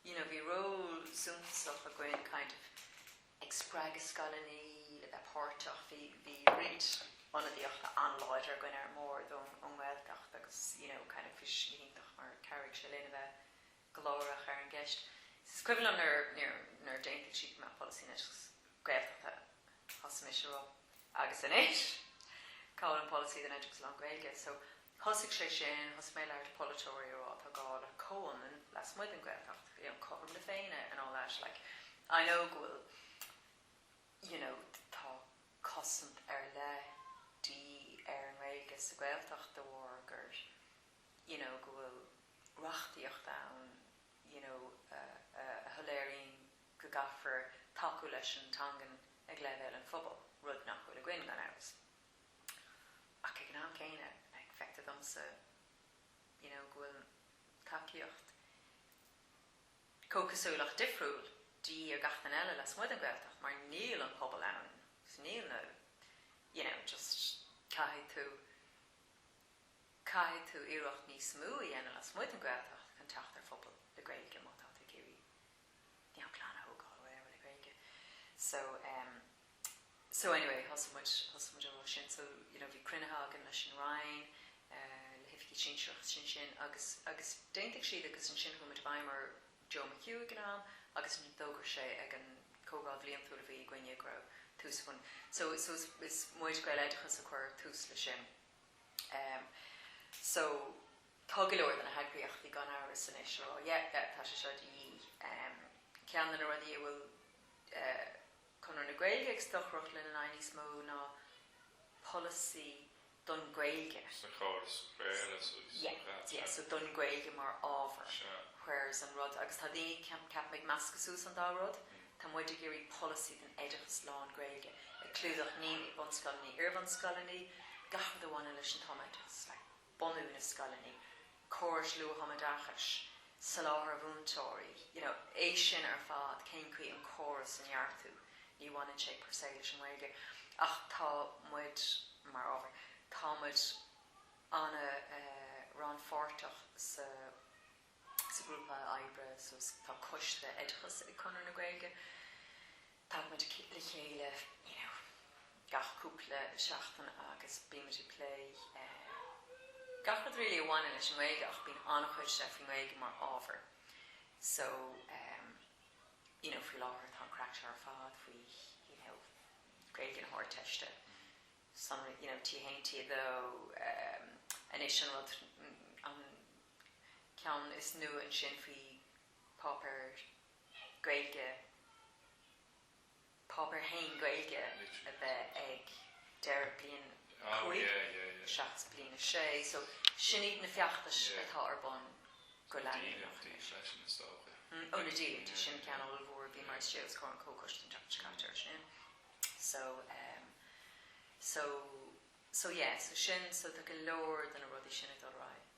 [SPEAKER 1] you know bhí ról suntasach againn kind of ag spreagadh scoileannaí le bheith páirteach, bhí, bhí roinnt ionadaíochta an-láidir againn ar an mbord ón nGaeltacht agus you know kind of bhí sé iontach mar chabhraigh sé linn a bheith glórach ar an gceist. Is cuimhin liom nuair a d'aontaigh siad go mbeadh polasaí anois Gaeltachta thosaigh mise a rá agus anois cá bhfuil an polasaí don oideachas lán-Ghaeilge? So. So thosaigh sé sin, thosaigh mé ag labhairt le polaiteoirí a rá tá gá le comhionannas lasmuigh den Ghaeltacht, you know, cothrom na Féinne and all that, like, I know go bhfuil, you know, tá cosaint ar leith de dhíth ar an nGaeilge sa Ghaeltacht de bharr gur, you know, go bhfuil reachtaíocht ann, you know, a shoiléiríonn go gcaithfear tacú leis an teangain ag leibhéal an phobail, rud nach bhfuil againn, gan amhras. Ach ag an am céanna, like, feictear domsa, you know, go bhfuil tacaíocht comhchosúil ach difriúil de dhíth ar gach duine eile lasmuigh den Ghaeltacht mar níl an pobal ann, so níl na, you know, just caithfidh tú, caithfidh tú iarracht níos mó a dhéanamh lasmuigh den Ghaeltacht chun teacht ar phobal le Gaeilge má tá tú ag iarraidh, you know, clann a thógáil or whatever le Gaeilge. So, em. So anyway, thosaigh muid, thosaigh muid an rud sin so you know bhí cruinnithe againn leis an Roinn, le hoifigigh sinsearacha ansin agus, agus d'aontaigh siad agus ansin chuaigh muid i bhfeidhm ar Joe McHugh ag an am agus ansin d'fhógair sé ag an Chomhdháil Bhliantúil a bhí againne go raibh tús faoi so, so is, is muid Gaeloideachas a chuir tús leis sin ehm so tá go leor de na heagraíochtaí gan amhras anois ag rá yeah, yeah tá sé seo de dhíth ehm ceann de na rudaí a bhfuil eh. Conradh na Gaeilge ag stocaireacht lena n-aghaidh níos mó ná polasaí don Ghaeilge. Sna córais
[SPEAKER 2] Bhéarla sa yeah, chat
[SPEAKER 1] yeah, so don Ghaeilge mar ábhar seo. whereas an rud, agus tá daoine, ceapaim, ag meascadh suas an dá rud, tá muid ag iarraidh polasaí don oideachas lán-Ghaeilge ag clúdach, naíonraí, bunscoileanna, iarbhunscoileanna, gach rud a bhaineann leis an tumoideachas, like. bunú na scoileanna, córas luath-thumoideachais, soláthar múinteoirí, you know, é sin ar fad, cén chaoi an córas a neartú, ní bhaineann sé per se leis an nGaeilge ach tá muid, mar ábhar, tá muid an-rannpháirteach sa. Sa ghrúpa oibre so tá coiste oideachais ag Conradh na Gaeilge. Tagann muid le chéile, you know, gach cúpla seachtain agus bíonn muid ag plé gach rud really a bhaineann leis an nGaeilge ach bíonn an-chuid de faoin nGaeilge mar ábhar. So, you know, faoi láthair tá an craic seo ar fad faoi, you know, Gaeilge na hArdteiste, sonraí, you know, T1, T2, anois an rud, an, ceann is nua ansin faoi Páipéar Gaeilge, Páipéar a hAon Gaeilge a bheith ag deireadh bliain 5 seachas bliain 6 so sin iad na feachtais atá ar bun go leanúnach anois. Ó na díolúintí, sin an ceann ollmhór a bhí mar bhí sé os comhair an Chomhchoiste an tseachtain seo caite ar sin so em so so yeah so sin so tá go leor de na rudaí sin ag dul ar aghaidh.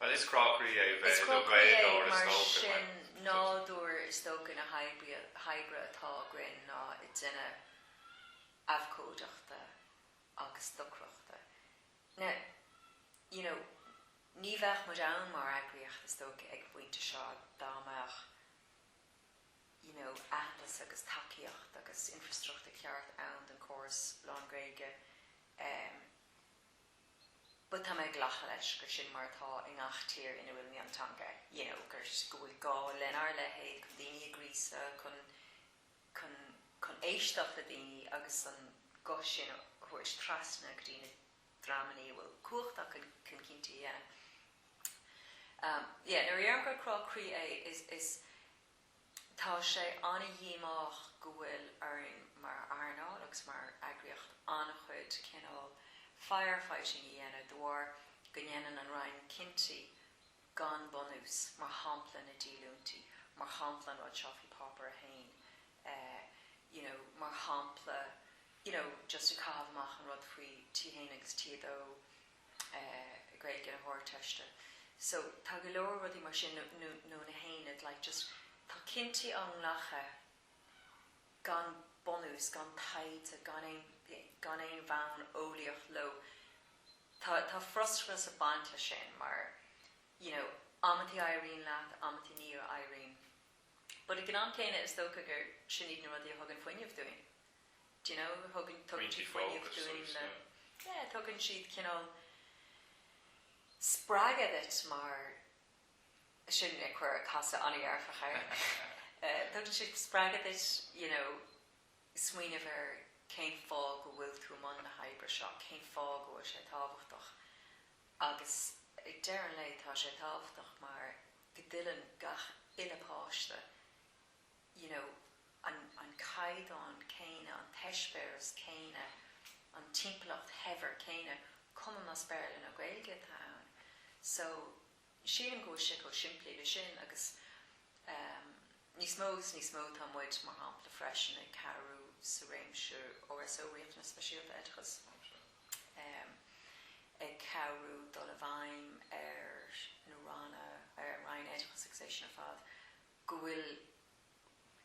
[SPEAKER 2] Bhuel, is crá croí é bheith i
[SPEAKER 1] do Ghaeilgeoir is dócha, mar sin nádúr is dócha na hoibre atá againn ná réimse abhcóideachta agus stocaireachta. Now, you know, ní bheadh muid ann mar eagraíocht is dócha ag an bpointe seo dá mbeadh, you know, aitheantas agus tacaíocht agus infrastruchtúr ceart ann don chóras lán-Ghaeilge. But tá mé ag glacadh leis gur sin mar atá i ngach tír ina bhfuil mionteanga, you know, gur, go bhfuil gá lenár leithéid chun daoine a ghríosadh, chun, chun, chun éisteacht le daoine agus an guth sin a thabhairt trasna go dtí na dreamannaí a bhfuil cumhacht acu chun cinntí a dhéanamh. Um, yeah, nuair a dhéarfainn gur crá croí é, is, is, Tá sé ana-dhíomách go bhfuil orainn mar earnáil agus mar eagraíocht an-chuid cineál fire-fighting a dhéanamh de bharr go ndéanann an Roinn cinntí gan bunús, mar shampla na díolúintí, mar shampla an rud seo faoi Páipéar a hAon, you know, mar shampla, you know, just ag caitheamh amach an rud faoi T1 agus T2, Gaeilge na hArdteiste so tá go leor rudaí mar sin nó nó na haonaid like just tá cinntí á nglactha gan bunús, gan taighde, gan aon gan aon bhonn eolaíoch leo. Tá tá frustrachas ag baint leis sin mar you know amantaí éiríonn leat, amantaí ní éiríonn but ag an am céanna is dócha gur sin iad na rudaí a thugann fuinneamh dúinn. do you know, tugann, tugann siad fuinneamh dúinn le, yeah, tugann siad cineál spreagadh duit mar, sin, ag cur, casadh an-dhearfach air, tugann siad spreagadh duit, you know, smaoineamh ar cén fáth go bhfuil tú i mbun na hoibre seo, cén fáth go bhfuil sé tábhachtach agus ag deireadh an lae tá sé tábhachtach mar go dtuilleann gach aon pháiste you know an an caighdeán céanna, an t-eispéireas céanna, an timpeallacht shaibhir céanna, cuma más Béarla nó Gaeilge atá ann. So, sílim go bhfuil sé chomh simplí le sin agus ehm níos mó is níos mó tá muid, mar shampla, freisin ag cabhrú sa réimse RSO, Riachtanais Speisialta Oideachais, ehm ag cabhrú dul i bhfeidhm ar na ranna, ar an Roinn Oideachais agus é sin ar fad go bhfuil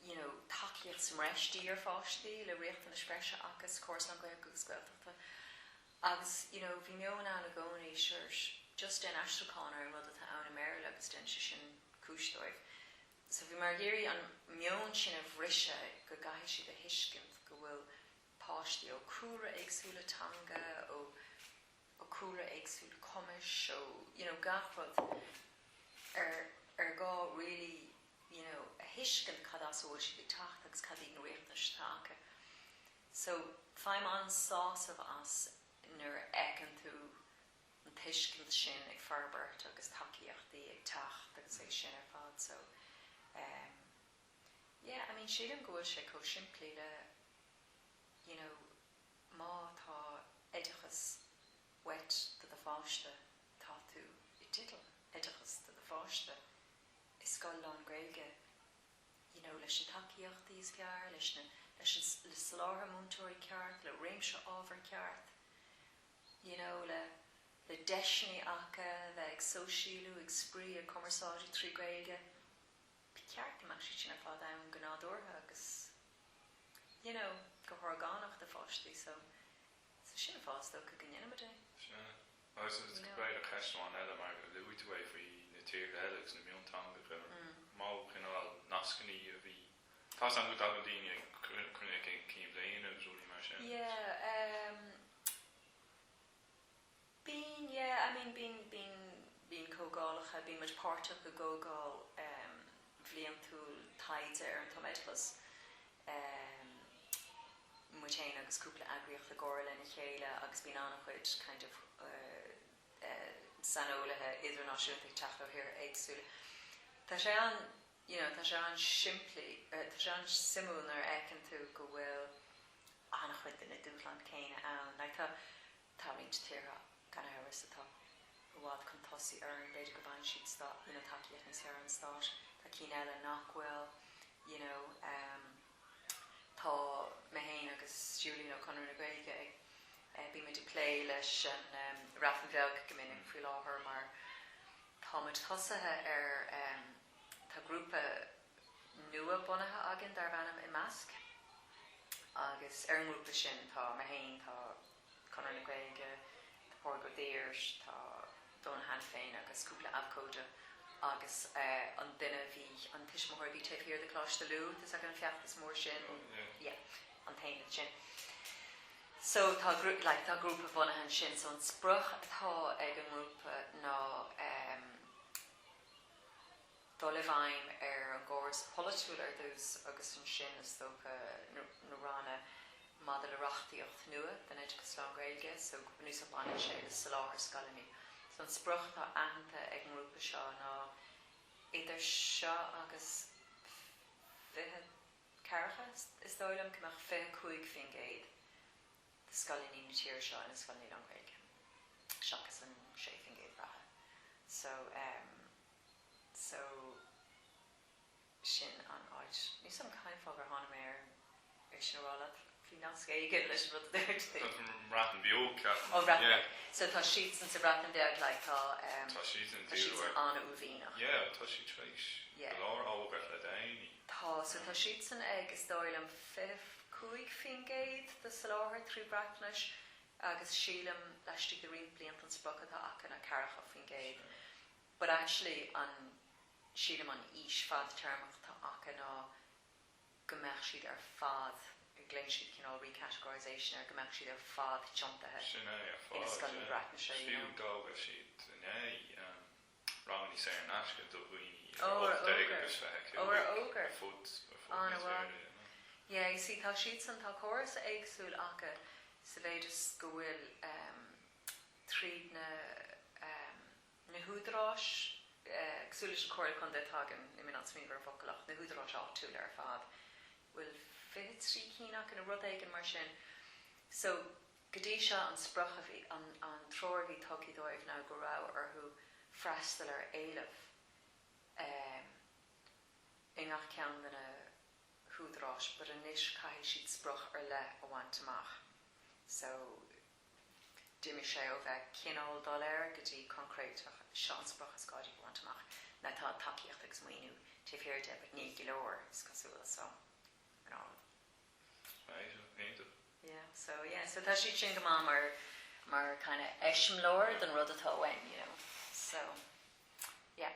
[SPEAKER 1] you know tacaíocht sa mbreis d'ár bpáistí le riachtanais breise acu sa chóras lán-Ghaeilge agus Gaeltachta agus you know bhí meon ann i gcónaí sure just déan aistriúchán ar an rud atá ann i mBéarla agus déanfaidh sé sin cúis dóibh so bímid ag iarraidh an meon sin a bhriseadh go gcaithfidh siad a thuiscint go bhfuil páistí ó chúlra éagsúla teanga ó cúlra éagsúil, cumais, ó you know gach rud ar ar gá really you know a thuiscint cad as a bhfuil siad ag teacht agus cad iad na riachtanais atá acu. So faighim an-sásamh as nuair a fheiceann tú an tuiscint sin ag forbairt agus tacaíochtaí ag teacht agus é sin ar fad so em yeah I mean sílim go bhfuil sé chomh simplí le you know Má tá oideachas uait do do pháiste, tá tú i dteideal oideachas do do pháiste i scoil lán-Ghaeilge, you know, leis na tacaíochtaí is ceart, leis na, leis an, le soláthar múinteoirí ceart, le réimse ábhar ceart, you know, le, le deiseanna acu bheith ag sóisialú, ag spraoi, ag cumarsáid trí Ghaeilge. Ba cheart go mbeadh siad sin ar fad ann go nádúrtha agus. you know, go horgánach do pháistí so, so sin an fáth is dócha go ndéanaimid é. Sin
[SPEAKER 2] é. Agus b'fhéidir ceist amháin eile, mar a luaigh tú é faoi na tíortha eile agus na mionteangacha, an mó cineál nascanna a bhí, tá's agam go dtagann daoine ag cruinniú cinn bhliana agus rudaí mar sin. Yeah, ehm. Bíonn, yeah, I mean bíonn, bíonn, bíonn comhdhálacha, bíonn muid páirteach i gcomhdháil bhliantúil taighde ar an tumoideachas, muid fhéin agus cúpla eagraíocht i gcomhar lena chéile agus bíonn an-chuid kind of saineolaithe idirnáisiúnta ag teacht ó thíortha éagsúla.
[SPEAKER 1] Tá sé an, you know, tá sé an-simplí, tá sé an-suimiúil nuair a fheiceann tú go bhfuil an-chuid de na dúshláin céanna ann, like tá, Tá roinnt tíortha, gan amhras, atá i bhfad chun tosaigh orainn, b'fhéidir go bhfaigheann siad tacaíocht níos fearr ón stát, tá cinn eile nach bhfuil you know em tá mé féin agus Julian ó Chonradh na Gaeilge ag eh bíonn muid ag plé leis an em Bhreatain Bheag go minic faoi láthair mar tá muid tosaithe ar em tá grúpa nua bunaithe againn darbh ainm Imeasc agus ar an ngrúpa sin tá mé féin, tá. Conradh na Gaeilge, tá Pól Deeds, tá Donal Hanafin agus cúpla abhcóide agus an duine a bhí, an tuismitheoir a bhí taobh thiar de Choláiste Lú, tá's agat an feachtas mór sin, yeah, an t-aon rud sin. So tá, like, tá grúpa bunaithe ansin, so an sprioc atá ag an ngrúpa ná, dul i bhfeidhm ar an gcóras polaitiúil ar dtús agus ansin, is dócha, na ranna maidir le reachtaíocht nua don oideachas lán-Ghaeilge so go bunúsach baineann sé le soláthar scoileanna. So an sprioc atá aitheanta ag an ngrúpa seo ná idir seo agus fiche ceathracha, is dóigh liom, go mbeadh fiche cúig faoin gcéad de scoileanna na tíre seo ina scoileanna lán-Ghaeilge seachas an sé faoin gcéad reatha. So. so sin an áit. Níl 's agam cén fáth gur tháinig mé ar ar sin a rá leat, bhí nasc éigin leis an rud a dúirt tú. Faoin mBreatain Bheag,
[SPEAKER 2] ceapaim. Ó Bhreatain Bheag.
[SPEAKER 1] So tá siadsan sa Bhreatain Bheag like tá ehm tá siadsan tá
[SPEAKER 2] siadsan
[SPEAKER 1] an-uaillmhianach. Yeah tá siad
[SPEAKER 2] tar éis go leor a fhógairt le déanaí. Tá so
[SPEAKER 1] tá siadsan ag is dóigh liom fiche cúig faoin gcéad de sholáthar trí Bhreatnais agus sílim laistigh de roinnt blianta an sprioc atá acu ná ceathracha faoin gcéad. But actually an, sílim an fhís fadtéarmach atá acu ná go mbeadh siad ar fad, glaonn siad cineál re-categorisation air, go mbeadh siad ar fad tiontaithe ina scoileanna Breatnaise, you know. Sin é ar fad, yeah. Fiú d'fhógair siad
[SPEAKER 2] inné ranganna saor in aisce do dhaoine idir 18 agus 25 Oh, ar fhógair? Oh, ar
[SPEAKER 1] fhógair? ar fud, ar
[SPEAKER 2] fud na tíre, you know.
[SPEAKER 1] Yeah, you see, tá siadsan, tá córas éagsúil acu sa mhéid is go bhfuil ehm tríd na ehm, na húdaráis, cosúil leis na Comhairlí Contae atá againn, níl mé in ann smaoineamh ar an bhfocal ach na húdaráis áitiúla ar fad, bhfuil fiche trí cinn acu nó rud éigin mar sin. So, go dtí seo an sprioc a bhí, an an treoir a bhí tugtha dóibh ná go raibh orthu freastal ar éileamh ehm i ngach ceann de na húdaráis but anois caithfidh siad sprioc ar leith a bhaint amach. So, D'imigh sé ó bheith cineál doiléir go dtí coincréiteach, seo an sprioc is gá dúinn a bhaint amach, tá tacaíocht agus maoiniú taobh thiar de but ní go leor, is cosúil, so you know. Iontach, iontach. Yeah, so yeah, so tá siad sin go maith mar, mar kind of eiseamláir don rud atá uainn, you know, so yeah.